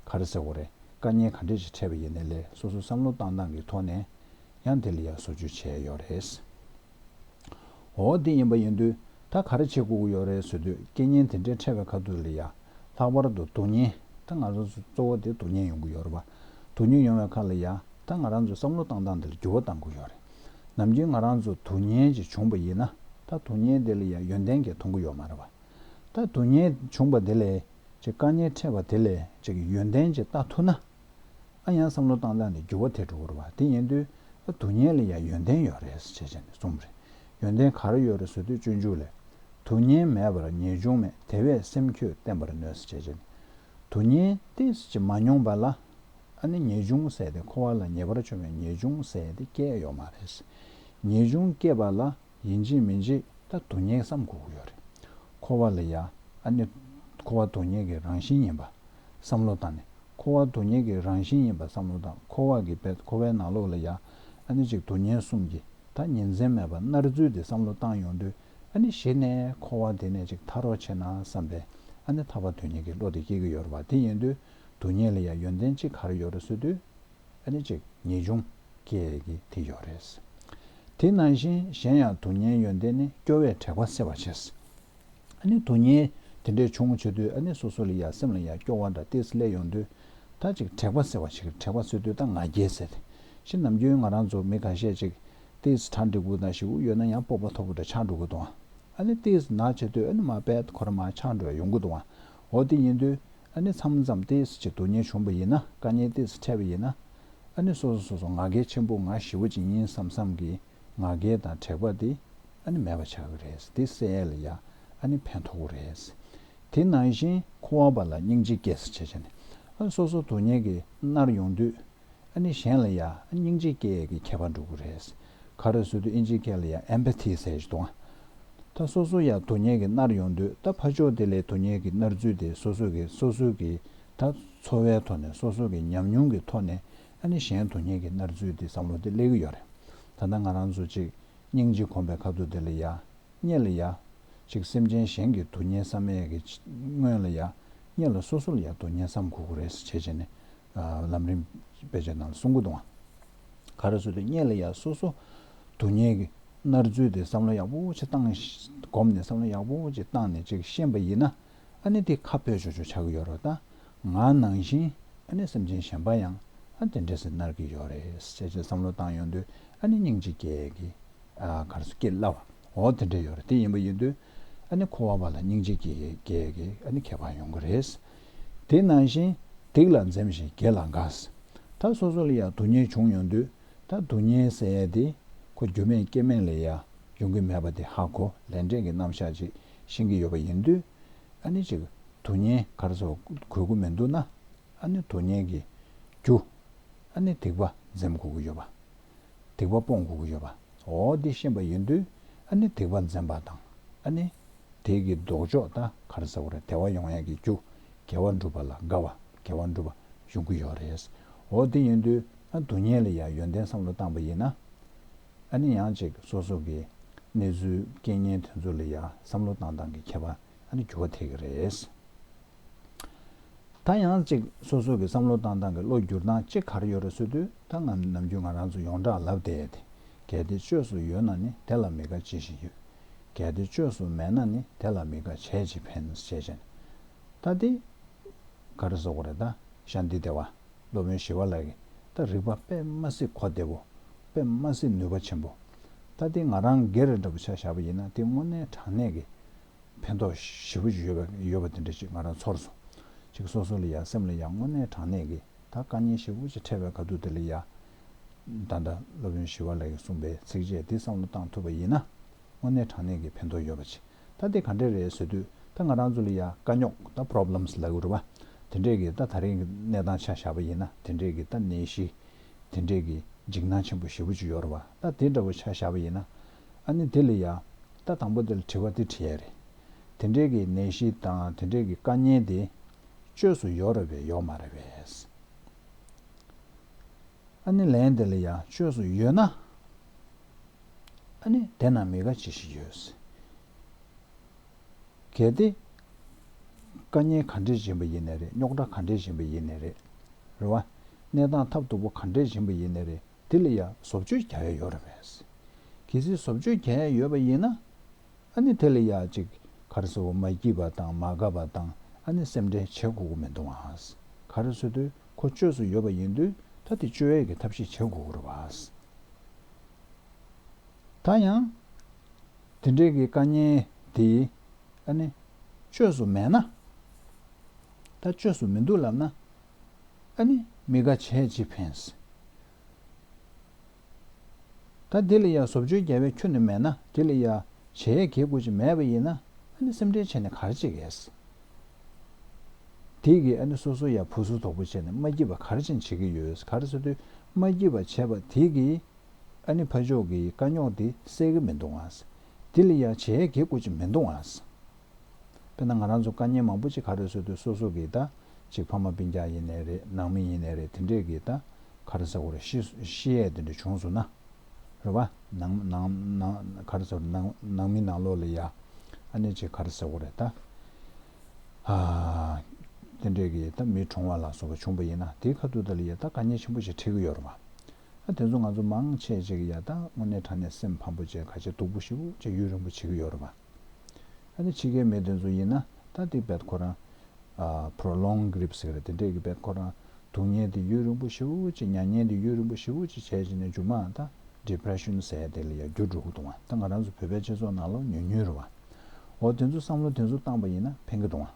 ག་རེ་ཟེར་གོ་རེ་དཀའ་ཉེན་ག་འདྲས་ཅིག་འཕྲད་པ་ཡིན་ནི་ལས་སོ་སོའི་བསམ་བློ་བཏང་སྟངས་ཀྱི་ཐོག་ནས་ཡང་དེ་ལ་ཡ་བཟོ་བཅོས་བྱས་ཡོད་རེད། འོ་འདི་ཡིན་པ་ཡིན་དུས་ད་ག་རེ་བྱེད་དགོས་ཀྱི་ཡོད་རེད་ཟེར་དུས་སྐད་སྙན་དེ་འདྲའི་ཕྲད་པའི་ཁ་ཐུག་རེད་ཡ། ལྷག་པར་དུ་དུག་སྙན། ད་ང་རང་ཚོ་གཙོ་བོ་དེ་དུག་སྙན་ཡོང་གི་ཡོད་རེད་བ། དུག་སྙན་ཡོང་བའི་ཁ་ལ་ཡ། ད་ང་རང་ཚོས་བསམ་བློ་བཏང་སྟངས་དེ་ལ་འགྱུར་བ་གཏང་དགོས་ཡོད་རེད། ནམ་རྒྱུན་ང་རང་ཚོ་དུག་སྙན་ཅིག་བྱུང་བ་ཡིན་ན་ད་དུག་སྙན་དེ་ལ་ཡ་ཡོན་ཏན་གྱིས་མཐོང་གི་ཡོད་མ་རེད་བ། ད་དུག་སྙན་བྱུང་བ་དེ་ལས་ཅིག་སྐར་སྙན་ཕྲད་པ་དེ་ལས་ཅིག་ཡོན་ཏན་ཅིག་བལྟ་ཐུབ་ན། ཨ་ཡང་བསམ་བློ་བཏང་བཏང་ནས་འགྱུར་བ་དེ་འགྲོ་བར་བ་དེ་ཉན་དུས་ཨ་དུ་ཉན་ལ་ཡང་ཡོན་ཏན་ཡོད་རེད་ཟེར་བྱས་ནས་རྩོམ་མ་རེད་ཡོན་ཏན་ག་རེ་ཡོད་རེད་ཟེར་དུས་སྤྱོད་འཇུག་ལས། དུ་ཉན་མེད་པར་ངེས་འབྱུང་མེད་དེ་བས་སེམས་ཁྱོད་བརྟན་པར་ནུས་ཟེར་བྱས་ནས། དུ་ཉན་ཏེ་ཟེར་གྱི་མ་མྱོང་པ་ལ། ཨ་ནི་ངེས་འབྱུང་བསལ་ཏེ་འཁོར་བ་ལ་ཉེས་པར་བྱུང་བའི་ངེས་འབྱུང་བསལ་ཏེ་སྐྱེ་ཡོད་མ་རེད། ངེས་འབྱུང་སྐྱེས་པ་ལ། ཡིན་རྗེས་མིན་རྗེས་ད་དུ་ཉེག་བསམ་གོ་གི་ཡོད་རེད། འཁོར་བ་ལ་ཡ་ཨ་ནི་འཁོར་བ་དོ་ཉེག་གི་རང་བཞིན་ཡིན་པ་བསམ་བློ་དང་ནི་འཁོར་བ་དོ་ཉེག་གི་རང་བཞིན་ཡིན་པ་བསམ་བློ་དང་འཁོར་བ་གི་བེད་འཁོར་བའི་ནང་ལོགས་ལ་ཡ་ཨ་ནི་གཅིག་དོ་ཉེན་གསུམ་གྱི་ད་ཉེན་མཚན་མེད་པ་རྣར་བརྫུས་ཏེ་བསམ་བློ་བཏང་ཡོང་དུས་ཨ་ནི་གཞི་ནས་འཁོར་བ་དེ་ནས་ཅིག་ཐར་རོགས་བྱས་ན་བསམ་པའི་ཨ་ནི་ཐར་བ་དོ་ཉེག་གི་བློ་དེ་སྐྱེ་གི་ཡོད་རེད་བ་དེ་ཡིན་དུས་དོ་ཉེག་ལ་ཡ་ཡོན་ཏན་གཅིག་ག་རེ་ཡོད་རེད་བཟོས་དུས། ཨ་ནི་གཅིག་ངེས་འབྱུང་སྐྱེ་གི་དེ་ཡོད་རེད། དེ་ནང་བཞིན་གཞན་ཡང་དུག་ཉའི་ཡོན་ཏན་ནི་སྐྱོ་བའི་དྲེགས་པ་སེལ་བར་བྱེད། ཨ་ནི་དུག་ཉའི་དེ་འདྲའི་འབྱུང་བྱེད་དུས་ཨ་ནི་སོ་སོ་ལ་ཡང་སེམས་ལ་ཡང་སྐྱོ་བ་འདྲ་སྟེ་སླད་ཡོང་དུས་ད་གཅིག་དྲེགས་པ་སེལ་བར་བྱེད་ཀྱི་དྲེགས་པ་སེལ་དུས་ད་ང་རྒྱལ་ཟེར། ཞེས་ནམ་རྒྱུན་ང་རང་ཚོ་མི་ག་ཤས་ཅིག་སྟེ་གྲ་འགྲིག་པོ་དང་ཞི་བོ་ཡོད་ན་ཡང་སྤོབས་པ་འཐོབ་པོ་འདྲ་ཆགས་འགྲོ་གི་འདུག་ཨ་ནི་སྟེ་ནག་བྱེད་དུས་ཨ་ནི་མ་དཔལ་གོར་མ་ཆགས་འགྲོ་ཡོང་གི་འདུག་འོ་དེ་ཡིན་དུས་ཨ་ནེ་ཚམ་ཙམ་ཏི་སི་ཆེ་དུ་ཉེ་བྱུང་བ་ཡིན་ན་དཀའ་ཉེན་ཏི་སི་འཕྲད་པ་ཡིན་ན་ཨ་ནེ་སོ་སོ་སོ་སོ་ང་གལ་ཆེན་པོ་ང་ཞི་བ་ཅིག་ཡིན་བསམ་བསམ་གི་ང་གལ་དང་དྲེགས་པ་ཏི་ཨ་ནེ་མེད་པ་ཆགས་ཀྱི་རེད་ཏི་སེ་ཨེ་ལ་ཡ་ཨ་ནེ་ཕན་ཐོགས་པོ་རེད། དེ་ནང་བཞིན་ཁོ་བ་པ་ལ་སྙིང་རྗེ་སྐྱེས་སི་ཆེ་ཆེ་ནས་ཨ་སོ་སོ་དུ་ཉེ་གི་མནར་ཡོང་དུས་ཨ་ནི་གཞན་ལ་ཡང་སྙིང་རྗེ་སྐྱེ་ཡས་ཀྱི་ཁྱད་པར་འགྲོ་གི་རེད། ཁ་རོས་སུ་དུ་ཨིན་ཇི་ཁལ་ལ་ཡང Empathy ཟེར་གྱི་འདུག་ད་སོ་སོ་ཡང་དོ་ཉེས་ཀྱི་མནར་ཡོང་དུས་ད་ཕ་ཆོག་དེ་ལས་དོ་ཉེས་ཀྱི་མནར་ཚུལ་དེ་སོ་སོ་ཀྱིས་སོ་སོ་ཀྱི་ད་འཚོ་བའི་ཐོག་ནས་སོ་སོ་ཀྱི་ཉམས་མྱོང་གི་ཐོག་ནས་ཨ་ནི་གཞན་དོ་ཉེས་ཀྱི་མནར་ཚུལ་དེ་བསམ་བློ་དེ་སླེ་གི་ཡོད་རེད་ད་ད་ང་རང་ཚོ་ཅིག་སྙིང་རྗེ་གོམས་པའི་ཁ་ཐུག་དེ་ལ་ཡང་རྙེད་ལ་ཡང་ཅིག་སེམས་ཅན་གཞན་གྱི་དོ་ཉེས་བསམ་ཡས་ཀྱི་སྔོན་ལ་ཡང་རྙེད་ལ་སོ་སོ་ལ་ཡང་དོ་ཉེས་བསམ་དགོས་གི་རེད་ཟེར་བྱས་བྱས་ནས་ལམ་རིམ་བེད་སྤྱོད་དང་སྲུང་འགོ་གཏོང་བ། ག་རེ་བཟོ་དུས་གཉེར་ལ་ཡ་སོ་སོ་དུ་གཉེར་གི་རྣར་འཛུལ་དེ་བསམ་བློ་ཡག་པོ་ཆེ་བཏང། སྒོམ་ནས་བསམ་བློ་ཡག་པོ་ཆེ་བཏང་ནས་ཅིག་ཤེས་པ་ཡིན་ན་ཨ་ནི་དེ་ཁ་བོད་ཆོས་ཆོས་ཆགས་ཀྱི་ཡོད་རོ་ད་ང་ནང་བཞིན་ཨ་ནི་སེམས་ཅན་གཞན་པ་ཡང་ཨ་དེ་འདྲས་སེ་རྣར་གྱི་ཡོད་རེད་སེ་ཅེ་བསམ་བློ་བཏང་ཡོང་དུས་ཨ་ནི་སྙིང་གཅིག་སྐྱེ་གི་ག་རེ་སུ་སྐྱེ་སླ་བ་འོ་དེ་འདྲས་ཡོད་རེད་དེ་ཡིན་པ་ཡིན་དུས་ཨ་ནི་ཁོ་བ་བ་ལ་སྙིང་གཅིག་སྐྱེ་གི་ཨ་ནི་ཁྱད་པར་ཡོང་གི་རེད་དེ་ནང་བཞིན་སྡིག་ལ་འཛེམ་ཞིང་དགེ་ལ་འགགས། ད་སོ་སོ་ལ་ཡང་སྡུག་བསྔལ་བྱུང་ཡོང་དུས་ད་སྡུག་བསྔལ་ཟེར་ཡས་དེ་ཁོ་རྒྱུ་མེད་རྐྱེན་མེད་ལས་ཡང་འབྱུང་གི་མེད་པ་དེ་ཧ་གོ་ལས་འབྲས་ཀྱི་རྣམ་བཞག་ཅིག་ཤེས་ཀྱི་ཡོད་པ་ཡིན་དུས་ཨ་ནི་ཅིག་སྡུག་བསྔལ་གར་ཚོར་དགོས་དགོས་མི་འདུག་ན་ཨ་ནི་སྡུག་བསྔལ་གྱི་རྒྱུ་ཨ་ནི་སྡིག་པ་འཛེམ་དགོས་ཀྱི་ཡོད་པ། སྡིག་པ་སྤོང་དགོས་ཀྱི་ཡོད་པ། འོ་འདི་ཤེས་པ་ཡིན་དུས་ཨ་ནི་སྡིག་པ་འཛེམ་པ་དང་ཨ་ནི། དེས་ཀྱི་ལྡོག་ཕྱོགས་ད་གར་ཟེར་བ་རེད་དལ་བ་ཡོང་ཡག་གི་རྒྱུ། དགེ་བ་བསྒྲུབ་པ་ལ་དགའ་བ་དགེ་བ་འགྲུབ་པ་ཡོང་གི་ཡོད་རེད། འོ་འདི་ཡིན་དུས་ཨ་སྡུག་བསྔལ་ལ་ཡང་ཡོན་ཏན་བསམ་བློ་བཏང་པ་ཡིན་ན། ཨ་ནི་ཡང་ཅིག་སོ་སོ་གི་གནས་ཚུལ་རྐྱེན་ངན་དེ་ཚོ་ལ་ཡང་བསམ་བློ་བཏང་བཏང་གི་ཁྱད་པར་ཨ་ནི་འགྱུར་བ་ཐེག་གི་རེད། ད་ཡང་གཅིག་སོ་སོ་གི་བསམ་བློ་བཏང་སྟངས་ཀྱི་བློ་བསྒྱུར་སྟངས་གཅིག་གར་ཡོད་རེད་བཟོས་དུས་ད་ང་ནམ་རྒྱུན་ང་རང་ཚོ་ཡོངས་གྲགས་ལབ་བསྡད་དེ་གལ་ཏེ་བཅོས་སུ་ཡོད་ན་ནི་དེ་ལ་མི་དགའ་བྱེད་བཞིན་ཡོད། གལ་ཏེ་བཅོས་སུ་མེད་ན་ནི་དེ་ལ་མི་དགའ་བྱས་ཅི་ཕན་བྱས་བྱས་ནས་ད་འདི་ག་རེ་བཟོ་གི་རེད་ད་ཤ་འདི་བདེ་བ་སློབ་དཔོན་ཞི་བ་ལགས་ཀྱིས་ད་རིག་པ་དཔེ་མ་སྲིད་གོ་བདེ་བོ་དཔེ་མ་སྲིད་ནུས་པ་ཆེན་པོ། ད་འདི་ང་རང་སྒེར་རེད་འདྲ་པོ་ཆ་བཞག་པ་ཡིན་ན་འདི་དངོས་གནས་དྲང་གནས་ཀྱི་ཕན་ཐོགས་ཞེ་བོ་ཡོད་པ་ཡོད་པ་དེ་འདྲ་ཞིག་ང་རང་ཚོར་སོང། ཅིག་སོ་སོ་ལ་ཡང་སེམས་ལ་ཡང་དངོས་གནས་དྲང་གནས་ཀྱི་ད་བཀའ་རྙིང་ཞེ་བོ་ཅིག་འཕྲད་པའི་དགའ་སྡུག་དེ་ལ་ཡ། ད་ལྟ་སློབ་དཔོན་ཞི་བ་ལགས་ཀྱིས་གསུངས་པའི་ཚིགས་བཅད་འདི་བསམ་བློ་བཏང་ཐུབ་པ་ཡིན་ན། དངོས་གནས་དྲང་གནས་ཀྱི་ཕན་ཐོགས་ཡོད་པ་ཅིག་ད་དེ་ག་འདྲས་རེད་ཟེར་དུས་ད་ང་རང་ཚོ་ལ་ཡ་དཀའ་རྙོག་ད problems ལ་འུར་བ་དེ་འདྲས་ཀྱི་ད་ད་རིང་གི་གནས་སྟངས་ཆ་བཞག་པ་ཡིན་ན་དེ་འདྲས་ཀྱི་ད་ནད་གཞི་དེ་འདྲས་ཀྱི་འཇིགས་སྣང་ཆེན་པོ་ཞེ་བོ་ཅིག་ཡོད་རེད་བ་ད་དེ་འདྲ་བོ་ཆ་བཞག་པ་ཡིན་ན་ཨ་ནི་དེ་ལ་ཡང། ལྟ་དང་པོ་དེ་ལ་དྲི་བ་འདི་དྲི་ཡས་རེད། དེ་འདྲས་ཀྱི་ནད་གཞི་དང་དེ་འདྲས་ཀྱི་དཀའ་ཉེན་དེ། བཅོས་སུ་ཡོག་རེད་བས་ཡོག་མ་རེད་བས། ཨ་ནི་ལན་དེ་ལ་ཡང་བཅོས་སུ་ཡོད་ན། ཨ་ནི་དེ་ན་མི་དགའ་ཅི་ཞིག་ཡོད། གལ་ཏེ། དཀའ་ཉེན་ག་འདྲས་སྦྱིན་པ་ཡིན་ནས་རེད་རྙོག་དྲ་ག་འདྲས་སྦྱིན་པ་ཡིན་ནས་རེད། རེད་བ། གནས་སྟངས་ཐབས་སྡུག་པོ་ག་འདྲས་སྦྱིན་པ་ཡིན་ནས་རེད། དེ་ལ་ཡང་བཟོ་བཅོས་བརྒྱ་ཡས་ཡོད་རེད་པས། གལ་སྲིད་བཟོ་བཅོས་བརྒྱ་ཡས་ཡོད་པ་ཡིན་ན། ཨ་ནི་དེ་ལ་ཡང་ཅིག་གར་སོ་བོ་མ་སྐྱིད་པ་དང་མ་དགའ་བ་དང་ཨ་ནི་སེམས་ཁྲལ་བྱེད་དགོས་ཀྱི་མི་འདུག་ཨ། གར་སོ་དུས་ཁོ་བཅོས་སུ་ཡོད་པ་ཡིན་དུས་ད་དེ་བཅོས་ཡས་ཀྱི་ཐབས་ཤེས་བྱེད་དགོས་ཀྱི་རེད་པས། ད་ཡང། དེ་འདྲའི་གི་དཀའ་ཉེན་དེ་ཨ་ནི་བཅོས་སུ་མེད་ན། ད་བཅོས་སུ་མི་འདུག་ལབ་ན། ཨ་ནི། མི་དགའ་བྱས་ཅི་ཕན། ད་དེ་ལ་ཡ་བཟོ་བཅོས་རྒྱལ་བས་ཁྱོད་ནི་མེད་ན་དེ་ལ་ཡ་བྱས་ཡ་གྱེས་དགོས་ཅི་མེད་པ་ཡིན་ན་ཨ་ནི་སེམས་ཁྲལ་བྱས་ནས་གར་ཅི་གས། དེ་གིས་ཨ་ནི་སོ་སོ་ཡ་བུ་སོ་དོག་པོ་བྱས་ནས་མ་སྐྱིད་པ་གར་ཅི་བྱེད་ཀྱི་ཡོད་གར་སོ་དུས་མ་སྐྱིད་པ་བྱས་པ་དེ་གིས་ཨ་ནི་ཕ་ཆོག་གི་དཀའ་རྙོག་དེ་སེལ་གྱི་མི་འདུག་ཨ་དེ་ལ་ཡ་བྱས་ཡ་གྱེས་དགོས་ཅི་མི་འདུག་ཨ། དཔེར་ན་ང་རང་ཚོ་དཀའ་ཉེན་མང་པོ་ཅིག་ཁ་རོལ་བཟོས་དུས་སོ་སོ་གིས་ད་ཅིག་ཕ་མ་པིན་རྒྱག་ཡིན་ནའི་རེད་ནང་མི་ཡིན་ནའི་རེད་དེ་འདྲས་ཀྱིས་ད་ཁ་རི་ས་གོ་རི་ཤི་ཡས་དེ་འདྲས་བྱུང་སོང་ན། རེད་བ། ནང་ཁ་རི་ས་གོ་རི་ནང་མི་ནང་ལོག་ལ་ཡ། ཨ་ནེ་ཅིག་ཁ་རི་ས་གོ་རི་ད། ཧ། དེ་འདྲས་ཀྱིས་ད་མི་གྲོངས་བ་ལ་སོགས་པ་བྱུང་བ་ཡིན་ན་དེའི་ཁ་ཐུག་ད་ལ་ཡ་ད་དཀའ་ཉེན་ཆེན་པོ་ཅིག་འཕྲད་ཀྱི་ཡོད་རེད་བ། ཨ་དེ་ཚོ་ང་ཚོ་མང་ཆེས་ཅིག་ཡ་ད་དངོས་གནས་དྲང་གནས་སེམས་ཕམ་པོ་ཅན་ཁ་ཆེ་སྡུག་པོ་ཞིག་པོ་ཅིག་ཡུན་རིང་པོ་བྱེད་ཀྱི་ཡོད་རེད་བ། ཨ་ནི་ཕྱི་རྒྱལ་མའི་དོན་ཚོ་ཡིན་ན་ད་ལྟའི་དཔལ་འཁོར་རང། Prolonged Grief། ཟེར་གི་རེད་དེ་འདྲས་ཀྱི་དཔལ་འཁོར་རང་སྡུག་བསྔལ་དེ་ཡུན་རིང་པོ་ཞེ་བོ་ཅིག་མྱ་ངན་དེ་ཡུན་རིང་པོ་ཞེ་བོ་ཅིག་བྱས་བྱས་ནས་མཇུག་མ་ད Depression ཟེར་དེ་ལ་ཡང་རྒྱུ་འགྲོ་གི་འདུག་ང་ད་ང་རང་ཚོ་བོད་པའི་སྤྱི་ཚོགས་ནང་ལོག་ཉུལ་ཉུལ་རུ་བ་འོ་དེ་ཚོ་བསམ་བློ་དེ་ཚོ་བཏང་པ་ཡིན་ན་ཕན་གི་འདུག་ང་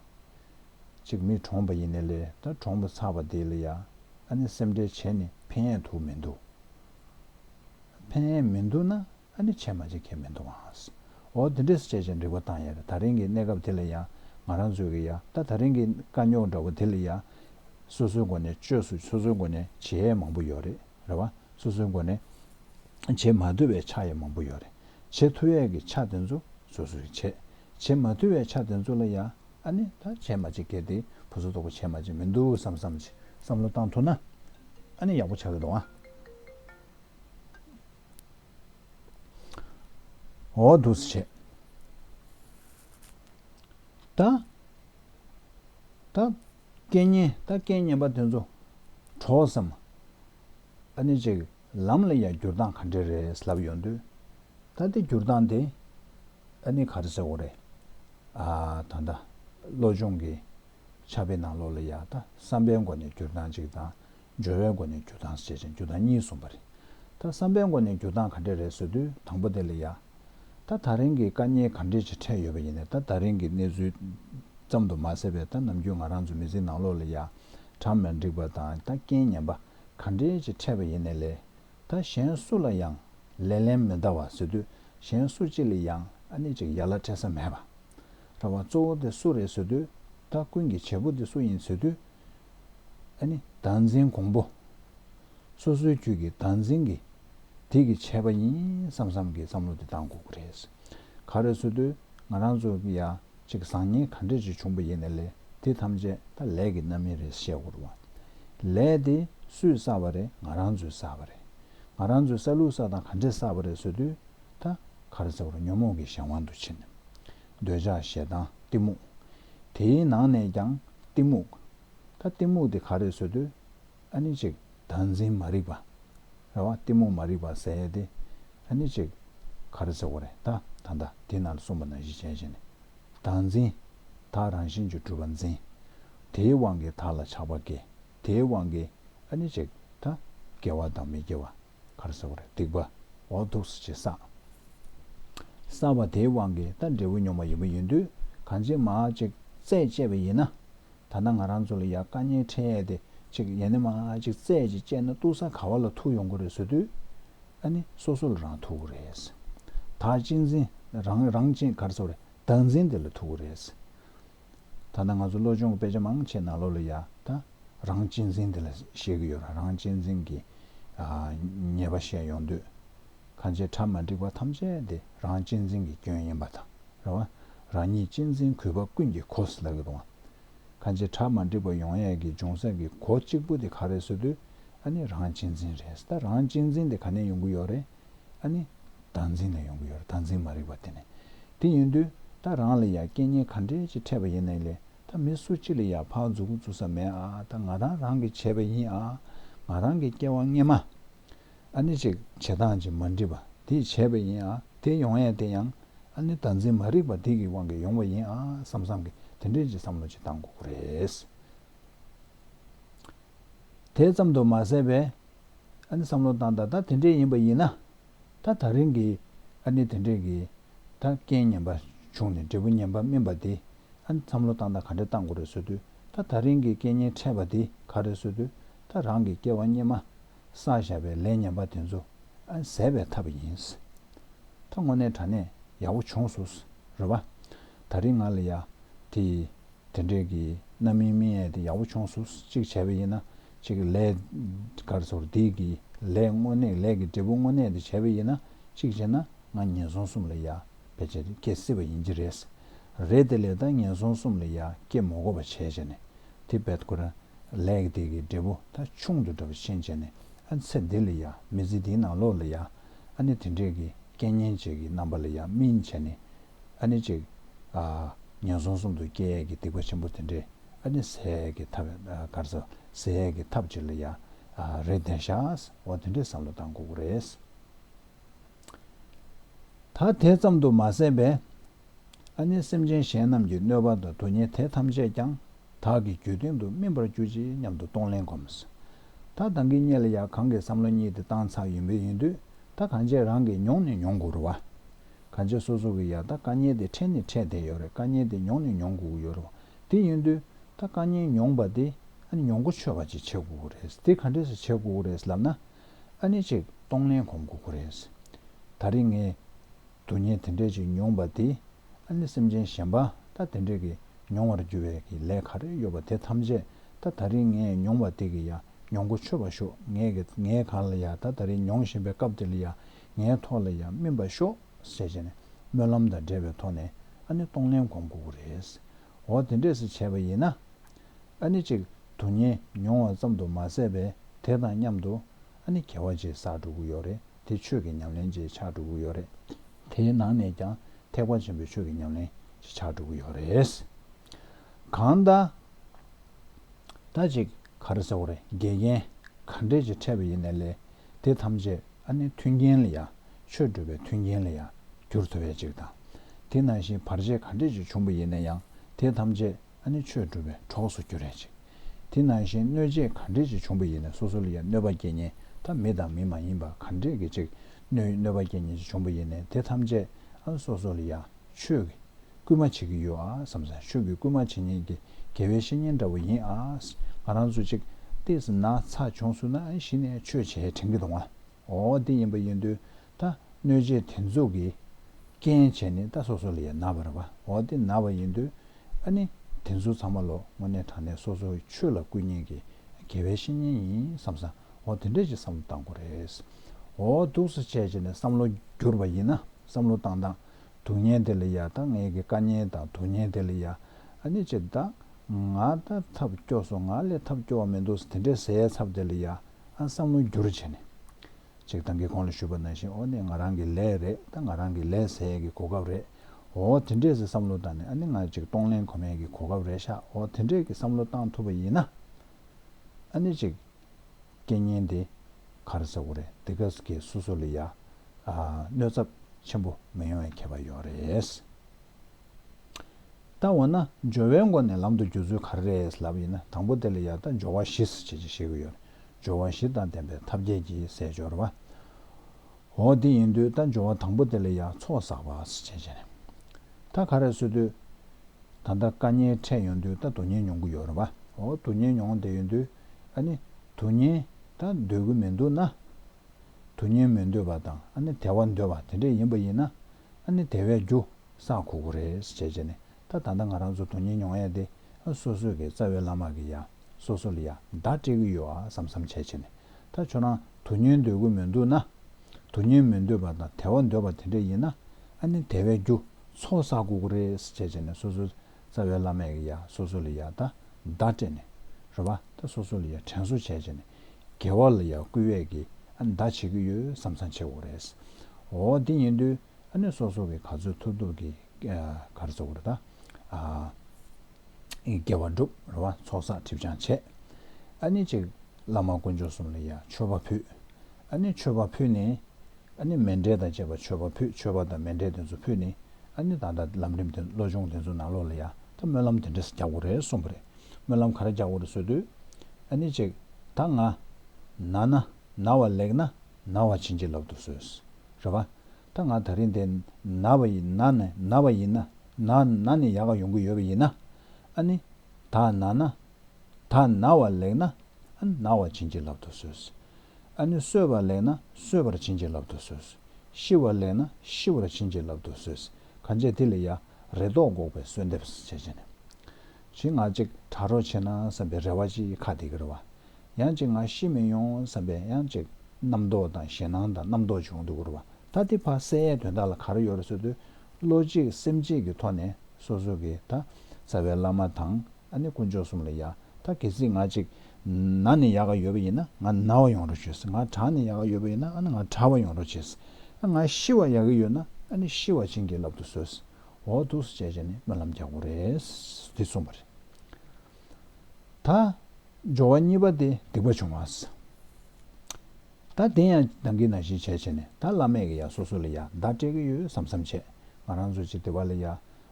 ཅིག་མི་གྲོངས་པ་ཡིན་ནས་ལས་ད་གྲོངས་པ་ཚར་བ་དེ་ལ་ཡང་ཨ་ནི་སེམས་ཁྲལ་བྱས་ནས་ཕན་ཡས་འདུག་མི་འདུག་ཕན་ཡས་མི་འདུག་ན་ཨ་ནི་བྱས་མ་བྱས་ཁས་མི་མཐོང་ཨང། འོ་དེ་འདྲས་སུ་བྱས་བྱས་འགྲིག་པ་བཏང་ཡ་རེད་ད་རིང་གི་གནས་སྐབས་དེ་ལ་ཡང་ང་རང་ཚོས་ཀྱི་ཡ་ད་ད་རིང་གི་དཀའ་རྙོག་འདྲ་བོ་དེ་ལ་ཡ། སོ་སོའི་སྒོ་ནས་བཅོས་སུ་སོ་སོའི་སྒོ་ནས་བྱེད་ཡས་མང་པོ་ཡོད་རེད་རེད་བ། སོ་སོའི་སྒོ་ནས་བྱེད་མ་འཐུ་བའི་ཆ་ཡས་མང་པོ་ཡོད་རེད། བྱེད་འཐུ་ཡས་ཀྱི་ཆ་དེ་ཚོ་སོ་སོའི་བྱེད། བྱེད་མ་འཐུ་བའི་ཆ་དེ་ཚོ་ལ་ཡ། ཨ་ནི་ད་བྱས་མ་བྱས་ཁས་དེ་བུ་ཚོ་ལྟོགས་པ་བྱས་མ་བྱས་མི་འདུག་བསམ་བསམ་བྱས་བསམ་བློ་བཏང་ཐུ་ན། ཨ་ནི་ཡག་པོ་ཆགས་ཀྱི་འདུག་ཨང། འོག་ཏུ་བྱས། ད་ལྟ་སྐལ་ངན་ད་སྐལ་ངན་པ་དེ་ཚོ་གྲོགས་སམ། ཨ་ནི་ཅིག་ལམ་ལ་ཡང་འགྱུར་སྟངས་ག་འདྲས་རེད་ལབ་ཡོང་དུས། ད་ལྟའི་འགྱུར་སྟངས་དེ་ཨ་ནི་གར་ཟེར་བ་རེད། ཨ་ད་ལྟ་བློ་སྦྱོང་གི་ཆ་བེད་ནང་ལོག་ལ་ཡག་ད་བསམ་པའི་མགོ་ནས་འགྱུར་སྟངས་ཅིག་དང་སྦྱོར་བའི་སྒོ་ནས་འགྱུར་སྟངས་ཞེས་བྱ་འགྱུར་སྟངས་གཉིས་གསུངས་པ་རེད། ད་བསམ་པའི་སྒོ་ནས་འགྱུར་སྟངས་ག་འདྲས་རེད་ཟེར་དུས་དང་པོ་དེ་ལ་ཡ། ད་ད་རིང་གི་དཀའ་རྙེད་ག་འདྲས་ཅིག་འཕྲད་ཡོད་པ་ཡིན་ནས་ད་ད་རིང་གི་གནས་ཚུལ་ཙམ་དུ་མ་ཟད་པའི་ད་ནམ་རྒྱུན་ང་རང་ཚོ་མི་ཚེའི་ནང་ལོགས་ལ་ཡ། གྲམ་ལ་འགྲིག་པ་དང་ད་རྐྱེན་ངན་པ་ག་འདྲས་ཅིག་འཕྲད་པ་ཡིན་ནས་ལས། ད་གཞན་སུ་ལ་ཡང་ལས་ལན་མི་འདའ་བ་ཟེར་དུས་གཞན་སུ་གཅིག་ལ་ཡང་ཨ་ནི་ཅིག་ཡ་ལ་འཕྲད་ས་མེད་པ། ར་བ་གཙོ་བོ་དེ་སུ་རེད་ཟེར་དུས་ད་ཀུན་གྱི་བྱེད་པོ་དེ་སུ་ཡིན་ཟེར་དུས། བདག་འཛིན་གོང་པོ། སོ་སོའི་ཁྱོད་ཀྱི་བདག་འཛིན་གྱི་དེ་གི་ཆད་པ་ཡིན་བསམ་བསམ་གི་བསམ་བློ་དེ་ལྡང་དགོས་ཀྱི་རེད། ག་རེ་བཟོ་དུས་ང་རང་ཚོ་ཡ་གཅིག་བཟང་ངན་ག་འདྲས་ཅིག་བྱུང་པ་ཡིན་ན་ལས་དེ་ཐམས་ཅད་ད་ལས་ཀྱི་རྣམ་དབྱེ་རེད་བཤད་དགོས་རུང་བ། ལས་དེ་སུས་བསགས་པ་རེད་ང་རང་ཚོས་བསགས་པ་རེད། ང་རང་ཚོས་བསགས་ལུགས་བསགས་སྟངས་ག་འདྲས་བསགས་པ་རེད་བཟོ་དུས་ད་ག་རེ་བཟོ་རུང་ཉོན་མོངས་ཀྱི་གཞན་དབང་དུ་ཕྱིན། འདོད་ཆགས་ཞེ་སྡང་གཏི་མུག། དེའི་ནང་ནས་ཀྱང་གཏི་མུག། ད་གཏི་མུག་དེ་ག་རེད་བཟོས་དུས། ཨ་ནི་ཅིག། བདག་འཛིན་མ་རིག་པ། རེད་བ། གཏི་མུག་མ་རིག་པ་ཟེར་ཡས་དེ། ཨ་ནི་ཅིག། ག་རེ་ཟེར་བ་རེད་ད། ད་ལྟ་དེ་ན་གསུངས་པ་ན་གཞི་ཅན་བཞིན། བདག་འཛིན། དག་རང་བཞིན་གྱི་སྤྲུལ་པ་འཛིན། དེའི་དབང་གིས་དག་ལ་ཆགས་པ་སྐྱེ། དེའི་དབང་གིས། ཨ་ནི་ཅིག། ད། སྐྱེ་བ་དང་མི་སྐྱེ་བ། གར་བཟོ་བར་སྡིག་པ་འོག་འདུག་སོ་ཅེས་བསམས། བསམས་པ་དེའི་དབང་གིས་ད་འབྲས་བུ་མྱོང་བ་ཡིན་པ་ཡིན་དུས་གང་ཅིའི་མ་ཅིག་རྩད་བཅད་པ་ཡིན་ན། ད་ནངས་རང་ཚོ་ལ་ཡ་བཀའ་ཉན་འཕྲད་ཡས་དེ་ཅིག་ཡས་ནས་མ་ཅིག་རྩད་ཅིག་བཅད་ན་ཏུ་ས་ག་བ་ལ་ཐུག་ཡོང་གི་རེད་བཟོ་དུས། ཨ་ནི་སོ་སོ་ལ་རང་ཐུག་གི་རེད། ད་གཅིག་འཛིན་རང་རང་གཅིག་གར་བཟོ་བར་བདག་འཛིན་དེ་ལ་ཐུག་གི་རེད། ད་ནི་ང་ཚོ་བློ་སྦྱོང་གི་དཔེ་ཆ་མང་ཆེ་ན་ལོ་ལོ་ཡ་ད་རང་གཅེས་འཛིན་དེ་ལ་བཤད་གི་ཡོད་ར་རང་གཅེས་འཛིན་གི་ཉེས་པ་བཤད་ཡོང་དུས་ཁ་ཆེ་ཁྲ་མ་འགྲིག་པ་ཐམས་ཅད་དེ་རང་གཅེས་འཛིན་གི་སྐྱོན་ཡིན་པ་དང་རེ་བ་རང་ཉིད་གཅེས་འཛིན་གུས་པ་ཀུན་གྱི་གོ་ས་ལ་གི་དོང་ཁ་ཆེ་ཁྲ་མ་འགྲིག་པ་ཡོང་ཡས་གི་འབྱུང་ས་གི་གོ་གཅིག་པུ་དེ་ག་རེ་བཟོ་དུས་ཨ་ནི་རང་གཅེས་འཛིན་རེད་ད་རང་གཅེས་འཛིན་དེ་ག་ནས་ཡོང་གི་ཡོད་རེད། ཨ་ནི། བདག་འཛིན་ནས་ཡོང་གི་ཡོད་རེད་བདག་འཛིན་མ་རིག་པ་དེ་ནི། དེ་ཡིན་དུས་ད་རང་ལ་ཡང་སྐད་སྙན་ག་འདྲས་ཅིག་འཕྲད་པ་ཡིན་ནའི་ལེ་ད་མི་སུ་གཅིག་ལ་ཡང་ཕག་འཛུགས་འཛུགས་ས་མེད་ཨ་ད་ང་རང་རང་གིས་བྱས་པ་ཡིན་ཨ་ང་རང་གིས་སྐྱེ་བ་སྔས་མ་ཨ་ནི་ཅིག་བྱེད་སྟངས་ཅིག་མ་འགྲིག་པ་དེས་བྱས་པ་ཡིན་ཨ་དེ་ཡོང་ཡས་དེ་ཡང་ཨ་ནི་བདག་འཛིན་མ་རིག་པ་དེ་གི་དབང་གིས་ཡོང་བ་ཡིན་ཨ་བསམ་བསམ་གི་དེ་འདྲས་ཅིག་བསམ་བློ་ཅིག་བཏང་དགོས་ཀྱི་རེད། དེ་ཙམ་དུ་མ་ཟད་པའི་ཨ་ནི་བསམ་བློ་བཏང་ད་ད་དེ་འདྲས་ཡིན་པ་ཡིན་ན། ད་ད་རིང་གི་ཨ་ནི་དེ་འདྲས་ཀྱིས་ད་རྐྱེན་ངན་པ་བྱུང་ནས་འབྲས་བུ་ངན་པ་སྨིན་པ་དེ་ཨ་ནི་བསམ་བློ་བཏང་ད་ག་འདྲས་བཏང་དགོས་རེད་བཟོ་དུས་ད་ད་རིང་གི་རྐྱེན་ངན་འཕྲད་པ་དེ་ག་རེད་བཟོ་དུས་ད་རང་གི་སྐྱེ་བ་སྙེ་མ་ས་བཞག་པའི་ལས་ངན་པ་དེ་ཚོ་ཨ་ནི་ཟད་པའི་ཐབས་ཡིན། ད་དངོས་གནས་དྲ་གནས་ཡག་པོ་བྱུང་བཟོ་རོགས་པ། ད་རིང་ང་ལ་ཡ་དེ་དེ་འདྲས་ཀྱིས་རྣམ་སྨིན་སྨིན་ཨེ་དེ་ཡག་པོ་བྱུང་བཟོ་གཅིག་བྱས་པ་ཡིན་ན་གཅིག་ལས། སྐར་ཚོགས་རྡེག་གི་ལས་དངོས་གནས་ལས་ཀྱི་འབྲས་བུ་དངོས་གནས་དེ་བྱས་པ་ཡིན་ན་གཅིག་བྱས་ན་ང་ངན་སོང་གསུམ་ལ་ཡ་བེད་སྤྱད་དེ་སྐྱེ་སྲིད་པ་ཡིན་གྱི་རེད། རེད་དེ་ལས་ད་ངན་སོང་གསུམ་ལ་ཡ་སྐྱེ་མོ་གོ་བ་བྱས་བྱས་ནས་དེ་བེད་ཁོ་རང་ལས་ཀྱི་དེ་གི་འབྲས་བུ་ད་ཆུང་དུ་འདྲ་བ་ཆེན་བྱས་ནས་ཨ་ཚེ་འདི་ལ་ཡ་མི་ཚེ་འདིའི་ནང་ལོག་ལ་ཡ་ཨ་ནི་དེ་འདྲས་ཀྱི་སྐད་སྙན་བྱས་ཀྱི་རྣམ་པ་ལ་ཡ་སྨིན་བྱས་ནས་ཨ་ནི་གཅིག་ངན་སོང་གསུམ་དུ་སྐྱེ་ཡས་ཀྱི་སྡིག་པ་ཆེན་པོ་དེ་འདྲས་ཨ་ནི་ཟས་ཀྱི་ཐབས་སྐར་ཚ་ཟས་ཀྱི་ཐབས་ཅིག་ལ་ཡང་རེ་ལྡན་ཤགས་འོ་དེ་འདྲའི་བསམ་བློ་བཏང་དགོས་ཀྱི་རེད། ད་དེ་ཙམ་དུ་མ་ཟད་པས། ཨ་ནི་སེམས་ཅན་གཞན་རྣམས་ཀྱི་གནོད་པ་དང་དུག་ཉེས་དེ་ཐམས་ཅད་ཀྱང་བདག་གི་རྒྱུད་སྟེང་དུ་སྨིན་པར་གྱུར་ཅིག་སྙམ་དུ་གཏོང་ལེན་གོམས། ད་བདག་གི་གཉེན་ལ་ཡང་གང་གི་བསམ་བློ་གཉིས་དེ་བཏང་ཚར་ཡོད་མོད་ཡིན་དུས་ད་གང་བྱས་རང་གིས་མྱོང་ནི་མྱོང་དགོས་རུང། གང་བྱས་སོ་སོ་གིས་ཡང་ད་དཀའ་ཉེན་དེ་འཕྲད་ནི་འཕྲད་བསྡད་ཡོད་རེད་དཀའ་ཉེན་དེ་མྱོང་ནི་མྱོང་དགོས་ཀྱི་ཡོད་རུང། དེ་ཡིན་དུས་ད་བཀའ་ཉན་མྱོང་པ་དེ་ཨ་ནི་མྱོང་གོ་ཆོད་པ་ཅིག་བྱེད་དགོས་ཀྱི་རེད་དེ་ག་འདྲས་སུ་བྱེད་དགོས་ཀྱི་རེད་ལབ་ན་ཨ་ནི་ཅིག་གཏོང་ལེན་གོམས་དགོས་ཀྱི་རེད། ད་རེས་ངས་དུས་ངན་དེ་འདྲས་ཅིག་མྱོང་པ་དེ་ཨ་ནི་སེམས་ཅན་གཞན་པ་ད་དེ་འདྲས་ཀྱིས་མྱོང་བར་འགྱུར་བའི་ཀྱི་ལས་ག་རེ་ཡོད་པ་དེ་ཐམས་ཅད་ད་ད་རེས་ངས་མྱོང་བ་དེ་གི་ཡ་མྱོང་གོ་ཆོད་པ་ཤོག་ངས་ག་ལ་ཡ་ད་ད་རེས་མྱོང་བཞིན་པའི་སྐབས་དེ་ལ་ཡ་ངའི་ཐོག་ལ་ཡ་སྨིན་པ་ཤོག། བསལ་བྱས་ནས་སྨོན་ལམ་དང་འབྲེལ་བའི་ཐོག་ནས་ཨ་ནི་སྟོང་ལན་གོང་བསྐུར་དགོས་རེད། འོ་དེ་འདྲས་སུ་བྱས་པ་ཡིན་ན། ཨ་ནི་གཅིག་དུ་ཉེ་མྱོང་བ་ཙམ་དུ་མ་ཟད་པའི་དེ་དང་མཉམ་དུ་ཨ་ནི་གལ་བ་བརྗེད་བསགས་འགྲོ་གི་ཡོད་རེད་དེ་ཆོས་ཀྱི་ཉམས་ལེན་བརྗེད་ཆགས་འགྲོ་གི་ཡོད་རེད། དེའི་ནང་ནས་ཀྱང་ཐེག་པ་ཆེན་པོའི་ཆོས་ཀྱི་ཉམས་ལེན་བརྗེད་ཆགས་འགྲོ་གི་ཡོད་རེད། གང་ལྟར། ད་ཅིག་ག་རེ་ཟེར་བ་རེད་དགེ་རྒན་ག་འདྲས་ཀྱིས་ཕྲད་པ་ཡིན་ནས་ལས་དེ་ཐམས་ཅད་ཨ་ནི་མཐུན་རྐྱེན་ལ་ཡང། ཆོས་སྒྲུབ་པའི་མཐུན་རྐྱེན་ལ་ཡང། གྱུར་ཐུབ་པའི་གཅིག་དང། དེ་ནང་བཞིན་བར་ཆད་ག་འདྲས་ཀྱིས་བྱུང་བ་ཡིན་ན་ཡང་དེ་ཐམས་ཅད་ཨ་ནི་ཆོས་སྒྲུབ་པའི་གྲོགས་སུ་གྱུར་རའི་གཅིག། དེ་ནང་བཞིན་གནོད་བྱེད་ག་འདྲས་ཀྱིས་བྱུང་བ་ཡིན་ན་སོ་སོ་ལ་ཡང་གནོད་པ་སྐྱེ་ཉེན་ཐ་མི་དང་མི་མ་ཡིན་པ་ག་འདྲས་ཀྱིས་གཅིག། གནོད་པ་སྐྱེ་ཉེན་ཅིག་བྱུང་བ་ཡིན་ནས་དེ་ཐམས་ཅད་ཨ་ནི་སོ་སོ་ལ་ཡང། ཆོས་ཀྱི་སྐུལ་མ་བྱེད་ཀྱི་ཡོད་ཨཱ་བསམ། ཆོས་ཀྱི་སྐུལ་མ་བྱེད་ཉན་གྱི་དགེ་བའི་བཤེས་གཉེན་འདྲ་བོ་ཡིན་ཨཱ་ང་རང་ཚོ་གཅིག་བལྟས་ན་ཚ་ཆུང་སུ་ན་ཞིག་ནས་ཆོས་བྱས་དྲན་གྱི་འདུག་ང་འོ་འདི་ཡིན་པ་ཡིན་དུས་ད་གནོད་བྱེད་དེ་ཚོ་གི་རྐྱེན་བྱས་ནི་ད་སོ་སོ་ལ་ཡང་ན་བར་བ་འོ་འདི་ན་བ་ཡིན་དུས་ཨཱ་ནི་དེ་ཚོ་ཚང་མ་ལོ་ངོ་ནས་དྲག་ནས་སོ་སོ་ཆོས་ལ་སྐུལ་ཉན་གྱི་དགེ་བའི་བཤེས་གཉེན་ཡིན་བསམ་ས་འོ་དེ་འདྲས་ཀྱི་བསམ་བློ་བཏང་དགོས་རེད་འོ་འདུག་ས་བྱས་བྱས་ནས་བསམ་བློ་བསྒྱུར་བ་ཡིན་ན་བསམ་བློ་བཏང་བཏང། དུག་ཉེན་དེ་ལ་ཡ་ད་ངེད་ཀྱི་དཀའ་ཉེན་དང་དུག་ཉེན་དེ་ལ་ཡ་ཨ་ནི་ཅི་ད་ང་ད་ཐབས་སྐྱོ་སོང་ང་ལས་ཐབས་སྐྱོ་བ་མི་འདུག་དེ་འདྲའི་ཟས་ཚབ་དེ་ལ་ཡ་ཨ་བསམ་བློ་འགྱུར་བྱས་ནས། ཅིག་ད་ངེད་ཁོང་ལ་ཞུས་པ་ནང་བཞིན་ཨོ་ནི་ང་རང་གི་ལས་རེད་ད་ང་རང་གི་ལས་ཟས་ཀྱི་གོ་སྐབས་རེད་ཨོ་དེ་འདྲས་ཟས་བསམ་བློ་བཏང་ནས་ཨ་ནི་ང་ཅིག་གཏོང་ལེན་གོ་མེད་ཀྱི་གོ་སྐབས་རེད་ཤག་ཨོ་དེ་འདྲས་ཀྱི་བསམ་བློ་བཏང་ཐུབ་པ་ཡིན་ན་ཨ་ནི་ཅིག། སྐད་སྙན་དེ་གར་ཟེར་བོ་རེད་འདི་ག་གི་སོ་སོ་ལ་ཡ་གནོད་ཚབ་ཆེན་པོ་མི་ཡོང་བའི་ཁྱད་པར་ཡོད་རེད། ད་འོ་ན་སྦྱོར་བའི་མགོ་ནས་ལམ་དུ་འགྱུར་ཚུལ་ག་རེ་རེད་ལབ་ཡིན་ན་དང་པོ་དེ་ལ་ཡ་ད་སྦྱོར་བ་བཞི་ཟེར་བྱེད་ཅིག་བཤད་ཀྱི་ཡོད་རེད་སྦྱོར་བ་བཞི་དང་ལྡན་པའི་ཐབས་མཁས་ཀྱི་ཟས་སྦྱོར་བ། འོ་དེ་ཡིན་དུས་ད་སྦྱོར་བ་དང་པོ་དེ་ལ་ཡ་ཚོགས་བསགས་པ་ཟེར་བྱེད་ཅིག་རེད། ད་ག་རེ་བཟོས་དུས། ད་ལྟ་བཀའ་ཉན་འཕྲད་ཡོང་དུས་ད་དུ་ཉན་མྱོང་གི་ཡོད་རེད་བ། འོ་དུ་ཉན་མྱོང་བསྡད་ཡོད་དུས། ཨ་ནི། དུ་ཉན་དང་འདོད་གི་མི་འདུག་ན། དུ་ཉན་མི་འདོད་པ་དང་ཨ་ནི་དལ་བ་འདོད་པ་དེ་འདྲ་ཡིན་པ་ཡིན་ན། ཨ་ནི་དལ་བའི་རྒྱུ་བསགས་ཁོ་ཁོ་རེད་ཟེར་བྱས་བྱས་ནས་ད་ད་ད་ང་རང་ཚོ་དུ་ཉན་མྱོང་ཡ་དེ་ཨ་སོ་སོ་གི་རྩ་བའི་བླ་མ་གི་ཡ་སོ་སོ་ལ་ཡ་བདག་སྤྲད་གི་ཡོད་ཨ་བསམ་བསམ་བྱས་བྱས་ནས་ད་ཁྱོད་རང་དུ་ཉན་འདོད་གི་མི་འདུག་ན། དུ་ཉན་མི་འདོད་པ་དང་དལ་བ་འདོད་པ་དེ་འདྲ་ཡིན་ན། ཨ་ནི་དལ་བའི་རྒྱུ་ཚོགས་བསགས་ཁོ་ཁོ་རེད་ཟེར་བྱས་བྱས་ནས་སོ་སོའི་རྩ་བའི་བླ་མས་ཡ་སོ་སོ་ལ་ཡ་ད་ད་སྤྲད་ནས། རོ་བ་ད་སོ་སོ་ལ་ཡ་དྲན་གསོ་བྱས་བྱས་ནས། རྒྱལ་བ་ལ་ཡ་བསྐུལ་བས་ཀྱི་ཨ་ནི་ད་བྱེད་ཀྱི་ཡོད་བསམ་བསམ་བྱེད་དགོས་རེད། འོ་དེ་ཉེ་དུས་ཨ་ནི་སོ་སོ་གི་ག་ཚོད་ཐུབ་ཐུབ་ཀྱི་ག་རེ་ཚོགས་ཀྱི་རེད་ད། སྐྱེ་བ་བསྒྲུབས་རོ་བ་ཚོགས་བསགས་གྲིབ་སྦྱང་བྱས། ཨ་ནི་ཅིག་བླ་མ་དཀོན་མཆོག་གསུམ་ལ་ཡ་མཆོད་པ་ཕུལ། ཨ་ནི་མཆོད་པ་ཕུལ་ནས། ཨ་ནི་མེ་འབྲས་དང་བཅས་པ་མཆོད་པ་ཕུལ་མཆོད་པ་དང་མེ་འབྲས་དེ་ཚོ་ཕུལ་ནས། ཨ་ནི་ད་ལྟ་ལམ་རིམ་དེ་བློ་སྦྱོང་དེ་ཚོའི་ནང་ལོག་ལ་ཡ་ད་སྨོན་ལམ་དེ་འདྲས་རྒྱག་དགོས་རེད་གསུངས་པ་རེད། སྨོན་ལམ་ག་རེ་རྒྱག་དགོས་རེད་ཟེར་དུས། ཨ་ནི་ཅིག་ད་ང། ན་ན། ན་བ་ལེགས་ན། ན་བ་བྱིན་གྱིས་བརླབས་འདུག་ཟོས། རེད་བ། ད་ང་ད་རིང་དེ། ན་བ་ཡི་ན་ནས་ན་བ་ཡིན། ན་ན་ནས་ཡག་ག་ཡོང་གི་ཡོད་པ་ཡིན། ཨ་ནི། ད་ན་ན། ད་ན་བ་ལེགས་ན། ཨ་ན་བ་བྱིན་གྱིས་བརླབས་འདུག་ཟོས། ཨ་ནུ་གསོད་པ་ལེགས་ན་གསོད་པར་བྱིན་གྱིས་བརླབ་ཏུ་གསོལ། ཤི་བ་ལེགས་ན་ཤི་བར་བྱིན་གྱིས་བརླབ་ཏུ་གསོལ། གང་བྱས་དེ་ལས་ཡར་རེ་དོགས་འགོག་པའི་གསོལ་འདེབས་བྱེད་ཅེ་ན། ཅི་ང་ཅིག་དྲག་རོགས་བྱེད་ན་བསམ་པའི་རེ་བ་ཅི་ཁ་དེ་གེར་བ། ཡང་ཅིག་ང་ཤི་མི་ཡོང་བསམ་པའི་ཡང་ཅིག་རྣམ་རྟོག་དང་ཞེ་སྣང་དང་རྣམ་རྟོག་བྱུང་དུ་བུར་བ་ད་ཏི་བ་སེ་ཡའི་དོན་དག་ལ་གར་ཡོར་བསོད་དུ་བློ་གཅིག་སེམས་གཅིག་གི་ཐོག་ནས་སོ་སོ་གི་ད་བཙའ་བའི་བླ་མ་དང། ཨ་ནི་དཀོན་མཆོག་གསུམ་ལ་ཡ། ད་གལ་སྲིད་ང་གཅིག། ན་ནི་ཡག་ག་ཡོད་པ་ཡིན་ན་ང་ན་བ་ཡོང་རོགས་བྱོས། ང་གྲ་ནི་ཡག་ག་ཡོད་པ་ཡིན་ན་ཨ་ནི་ང་གྲ་བ་ཡོང་རོགས་བྱས། ཨ་ང་ཤི་བ་ཡག་གི་ཡོད་ན་ཨ་ནི་ཤི་བ་བྱིན་གྱིས་བརླབ་ཏུ་གསོལ། འོ་ཐུགས་སུ་བཅས་བྱས་ནས་སྨོན་ལམ་རྒྱག་གོ་རེད། འདི་གསུངས་པ་རེད། ད། སྦྱོར་བ་གཉིས་པ་སྟེ་སྡིག་པ་བྱུང་བ། ད་དེ་ཡང་བདག་གིས་ན་གཞི་བྱས་བྱས་ནས་ད་བླ་མས་གི་ཡ་སོ་སོ་ལ་ཡ་བདག་སྤྲད་གི་ཡོད་བསམ་བསམ་བྱས། ང་རང་ཚོ་གཅིག་སྡེ་བ་ལ་ཡ།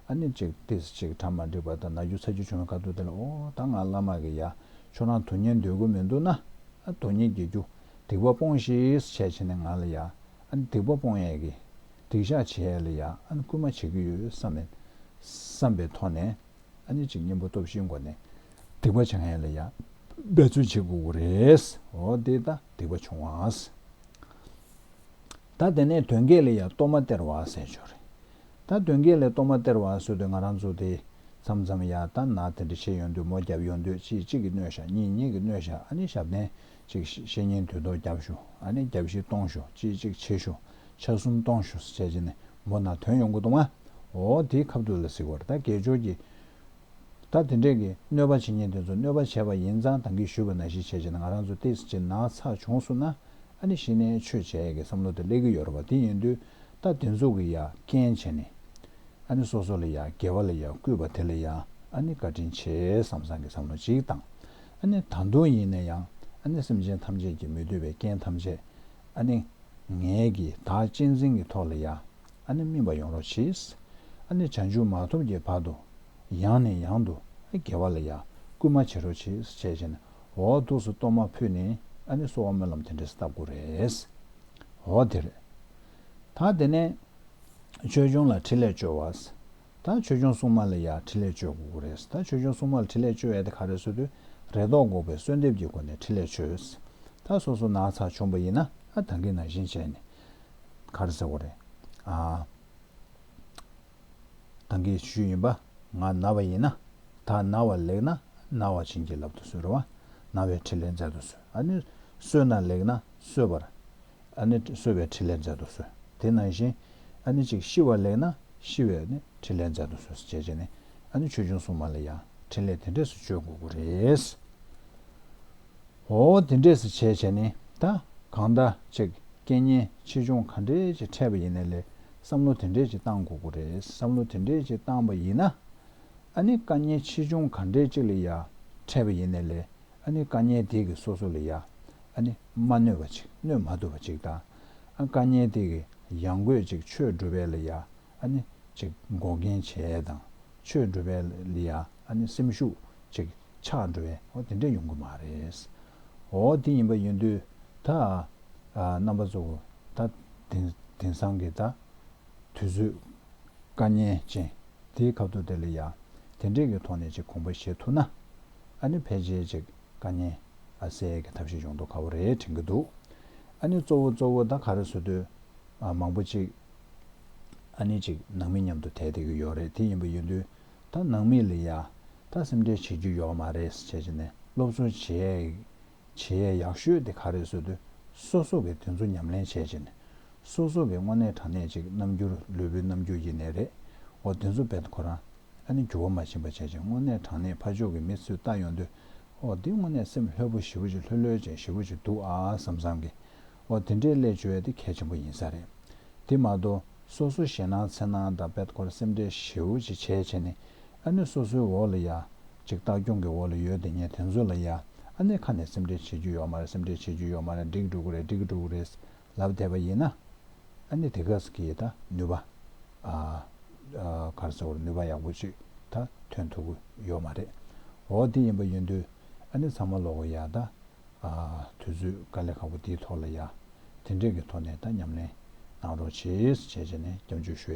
ཨ་ནི་ཅིག་ཏིས་ཅིག་གྲ་མ་འགྲིག་པ་ལྟ་ན་རྒྱུ་ཚ་རྒྱུ་ཆུང་བའི་ཁ་ཐུག་དེ་ལ་ཨོ་ད་ང་བླ་མ་གི་ཡ་ཁྱོད་རང་དོན་གཉེར་འདོད་དགོས་མི་འདུག་ན་ཨ་དོན་གཉེར་གྱི་རྒྱུ་སྡིག་པ་སྤོང་ཤིས་བྱས་བྱས་ནས་ང་ལ་ཡ་ཨ་ནི་སྡིག་པ་སྤོང་ཡས་གི་སྡིག་བཤགས་བྱེད་ཡས་ལ་ཡ་ཨ་ནི་སྐུལ་མ་བྱེད་ཀྱི་ཡོད་བསམ་མེད་བསམ་པའི་ཐོག་ནས་ཨ་ནི་ཅིག་གཉེན་པོ་སྟོབས་བཞིའི་མགོ་ནས་སྡིག་པ་བྱང་ཡས་ལ་ཡ་འབད་རྩོལ་བྱེད་དགོས་གི་རེད་ཨོ་དེ་ལྟ་སྡིག་པ་ཆུང་བ། ད་དེ་ནས་དོན་གྱི་ལ་ཡ་གཏོར་མ་སྟེར་བ་ཟེར་ཆོག་རེད་ད་དོན་གྱི་ལས་གཏོང་མ་སྟེར་བ་བཟོས་དུས་ང་རང་ཚོ་དེ་མཚམས་མཚམས་ཡར་ལྟ་ན་དེ་འདྲ་བྱེད་ཡོང་དུས་མོ་རྒྱབ་ཡོང་དུས་གཅིག་གཅིག་གིས་སྣོད་བཞག་གཉིས་གཉིས་ཀྱིས་སྣོད་བཞག་ཨ་ནི་ཞབས་བརྟན་གཅིག་བཤེས་གཉེན་དུས་ཐོག་རྒྱབ་ཞོ་ཨ་ནི་རྒྱབ་བཤིག་གཏོང་ཞོ་གཅིག་གཅིག་བྱེད་ཞོ་ཆ་གསུམ་གཏོང་ཞོ་བྱས་རྗེས་ནས་མོ་ན་དོན་ཡོང་གི་འདུག་མ་འོ་དེའི་ཁབ་ཐུག་ལ་གཟིགས་བར་ད་དགེ་སྦྱོར་གྱི་ད་དེ་འདྲས་ཀྱི་གནོད་པ་བྱེད་མཁན་དེ་ཚོ་གནོད་པ་བྱས་པ་ཡིན་ཙང་དང་གི་ཞུས་པ་ན་གཞི་བྱས་བྱས་ན་ང་རང་ཚོ་ཏེས་ཀྱི་ན་ཚ་བྱུང་སོང་ན་ཨ་ནི་ཤི་ནའི་ཆོས་བྱས་ཡས་ཀྱི་བསམ་བློ་དེ་སླེབས་ཀྱི་ཡོད་ར་བ་དེ་ཡིན་དུས་ད་དེ་ཚོ་གི་ཡ་རྐྱེན་བྱས་ནས་ཨ་ནི་སོ་སོ་ལ་ཡ་རྒྱལ་བ་ལ་ཡ་བརྐུས་པ་དེ་ལ་ཡ་ཨ་ནི་བཀའ་དྲིན་ཆེ་བསམ་བསམ་གྱི་བསམ་བློ་གཅིག་དང་ཨ་ནི་ད་དུང་ཡིན་ན་ཡང་ཨ་ནི་སེམས་ཅན་ཐམས་ཅད་ཀྱི་མི་འདོད་པའི་རྐྱེན་ཐམས་ཅད་ཨ་ནི་ངས་ཀྱི་ད་གཅེས་འཛིན་གྱི་ཐོག་ལ་ཡ། ཨ་ནི་སྨིན་པ་ཡོང་རོགས་བྱེད། ཨ་ནི་བྱང་ཆུབ་མ་ཐོབ་ཀྱི་བར་དུ། ཡང་ནས་ཡང་དུ་དགེ་བ་ལ་ཡང་སྐུལ་མ་བྱེད་རོགས་བྱེད། བྱས་བྱས་ནས་འོ་ཐུགས་སུ་གཏོར་མ་ཕུལ་ནས་ཨ་ནི་གསོལ་བ་སྨོན་ལམ་དེ་འདྲས་བཏབ་དགོས་རེད། འོ་དེ་རེད། ད་དེ་ནས། ཆོས་སྐྱོང་ལ་ཕྲིན་ལས་བཅོལ་བ། ད་ཆོས་སྐྱོང་སྲུང་མ་ལ་ཡང་ཕྲིན་ལས་བཅོལ་དགོས་དགོས་རེད། ད་ཆོས་སྐྱོང་སྲུང་མ་ལ་ཕྲིན་ལས་བཅོལ་ཡ་དེ་ག་རེ་བཟོས་དུས་རེ་དོགས་འགོག་པའི་གསོལ་འདེབས་ཀྱི་སྒོ་ནས་ཕྲིན་ལས་བཅོལ། ད་སོ་སོ་ནག་ཚགས་ཆོམ་པ་ཡིན་ན་ཨ་ད་གིན་ན་བཞིན་བྱས་ནས། གར་ཟེར་བ་རེད། ཐང་གའི་ཤུལ་ཡིན་པ་ང་ན་བ་ཡིན་ན་ད་ན་བ་ལེགས་ན་ན་བ་བྱིན་གྱིས་བརླབ་ཏུ་གསོལ་རོ། ན་བའི་ཕྲིན་ལས་མཛད་དུ་གསོལ། ཨ་ནི་གསོལ་ན་ལེགས་ན་གསོལ་བར། ཨ་ནི་གསོལ་བའི་ཕྲིན་ལས་མཛད་དུ་གསོལ། དེ་ནང་བཞིན་ཨ་ནི་ཅིག་ཤི་བ་ལེགས་ན་ཤི་བའི་ཕྲིན་ལས་མཛད་དུ་གསོལ་ཞེས་བྱས་ནས་ཨ་ནི་ཆོས་འབྱུང་སྲུང་མ་ལ་ཡང་ཕྲིན་ལས་དེ་འདྲས་སུ་བཅོལ་དགོས་ཀྱི་རེད། ཨོ་དེ་འདྲས་སུ་བྱས་བྱས་ནི་ད་གང་ལྟ་ཅིག་སྐད་སྙན་ཆེ་ཆུང་ག་འདྲས་ཀྱི་ཕྲད་པ་ཡིན་ན་ལས་བསམ་བློ་དེ་འདྲས་ཀྱི་བཏང་དགོས་དགོས་རེད་བསམ་བློ་དེ་འདྲས་ཀྱི་བཏང་པ་ཡིན་ན་ཨ་ནི་སྐད་སྙན་ཆེ་ཆུང་ག་འདྲས་ཅིག་ལ་ཡ་ཕྲད་པ་ཡིན་ན་ལས་ཨ་ནི་སྐད་སྙན་དེ་གི་སོ་སོ་ལ་ཡ་ཨ་ནི་མ་གནོད་པ་ཅིག་གནོད་མ་ཐུབ་པ་ཅིག་དང་ཨ་སྐད་སྙན་དེ་གི་ཡང་དགོས་ཅིག་ཆོས་སྒྲུབ་པའི་ལ་ཡ་ཨ་ནི། ཅིག། འགོག་རྐྱེན་བྱས་དང། ཆོས་སྒྲུབ་པའི། ལི་ཡ། ཨ་ནི། སེམས་ཤུགས། ཅིག། ཆགས་འགྲོ་བའི། ཨོ་དེ་འདྲས་ཡོང་གི་མ་རེད། ཨོ་དེ་ཡིན་པ་ཡིན་དུས། ད། རྣམ་པ་གཙོ་བོ། ད། དེང་སང་གི་ད། དུས་ཚོད། དཀའ་ཉེན་ཅན། དེའི་ཁབ་ཏུ་དེ་ལི་ཡ། དེ་འདྲས་ཀྱི་ཐོག་ནས་ཅིག་གོང་འཕེལ་བྱེད་ཐུབ་ན། ཨ་ནི་ཕལ་ཆེར་ཅིག། དཀའ་ཉེན། ཨ་སེལ་གྱི་ཐབས་ཤེས་ཡོང་དུ་ཁ་བོ་རེ་དྲན་གྱི་འདུག། ཨ་ནི་གཙོ་བོ་གཙོ་བོ་ད་ག་རེ་བཟོ་དུས། མང་པོ་ཅིག། ཨ་ནེ་ཅིག་ནང་མི་མཉམ་དུ་དེད་དེ་གི་ཡོད་རེད་དེ་ཡིན་པ་ཡིན་དུས་ད་ནང་མི་ལ་ཡ་ད་སེམས་ཁྲལ་བྱེད་རྒྱུ་ཡོད་མ་རེད་བྱས་བྱས་ནས་སློབ་གསོ་བྱས་བྱས་ཡས་ཡག་ཤོས་དེ་ག་རེད་བཟོས་དུས་སོ་སོ་གི་དེ་ཚོ་ཉམས་ལེན་བྱས་བྱས་ནས་སོ་སོ་གི་དངོས་གནས་དྲང་གནས་ཅིག་རྣམ་འགྱུར་ལུས་པོའི་རྣམ་འགྱུར་ཡེ་ནས་རེད་འོ་དེ་ཚོ་དཔེར་ཁོ་རང་ཨ་ནེ་འགྱུར་བ་མ་ཕྱིན་པ་བྱས་བྱས་དངོས་གནས་དྲང་གནས་ཕ་ཕྱོགས་གི་མི་ཚོས་ལྟ་ཡོང་དུས་ཨོ་འདི་དངོས་གནས་སེམས་ལྷོད་པོ་ཞི་བོ་ཅིག་ལྷོད་ལྷོད་ཅིག་ཞི་བོ་ཅིག་འདུག་ཨ་བསམ་བསམ་གི་འོ་དེ་འདྲའི་སླད་བྱོལ་བ་དེ་གལ་ཆེན་པོ་ཡིན་ས་རེད། དེ་མ་གཏོགས་སོ་སོའི་ཞེད་སྣང་འཚེར་སྣང་དང་དཔལ་འཁོར་སེམས་ཁྲལ་ཞེའུ་ཅི་བྱས་བྱས་ནས་ཨ་ནེ་སོ་སོའི་འོག་ལ་ཡ། ཅིག་ལྟ་སྐྱོང་གི་འོག་ལ་ཡོད་དེ་ངས་དེ་ཚོ་ལ་ཡ། ཨ་ནེ་ཁ་ནས་སེམས་ཁྲལ་བྱེད་རྒྱུ་ཡོག་མ་རེད་སེམས་ཁྲལ་བྱེད་རྒྱུ་ཡོག་མ་རེད་འགྲིག་འགྲོ་གི་རེད་འགྲིག་གི་འགྲོ་གི་རེད་ལབ་བསྡད་པ་ཡིན་ན། ཨ་ནེ་དེ་ག་ས་གིས་ད་ནུས་པ། གར་ས་བོར་ནུས་པ་ཡག་པོ་ཅིག་ད་ཐོན་ཐུབ་གི་ཡོག་མ་རེད། འོ་དེ་ཡིན་པ་ཡིན་དུས་ཨ་ནེ་ཚང་མ་ལོག་གི་ཡ་ད། དུས་ཚོད་དཀའ་ལས་ཁག་པོ་འདིའི་ཐོག་ལ་ཡང་དེ་འབྲེལ་གྱི་ཐོག་ནས་དང་ཉམས་ལེན་གནང་རོགས་བྱེད་བྱེད་ནས་སྐྱབས་འཇུག་ཞུ།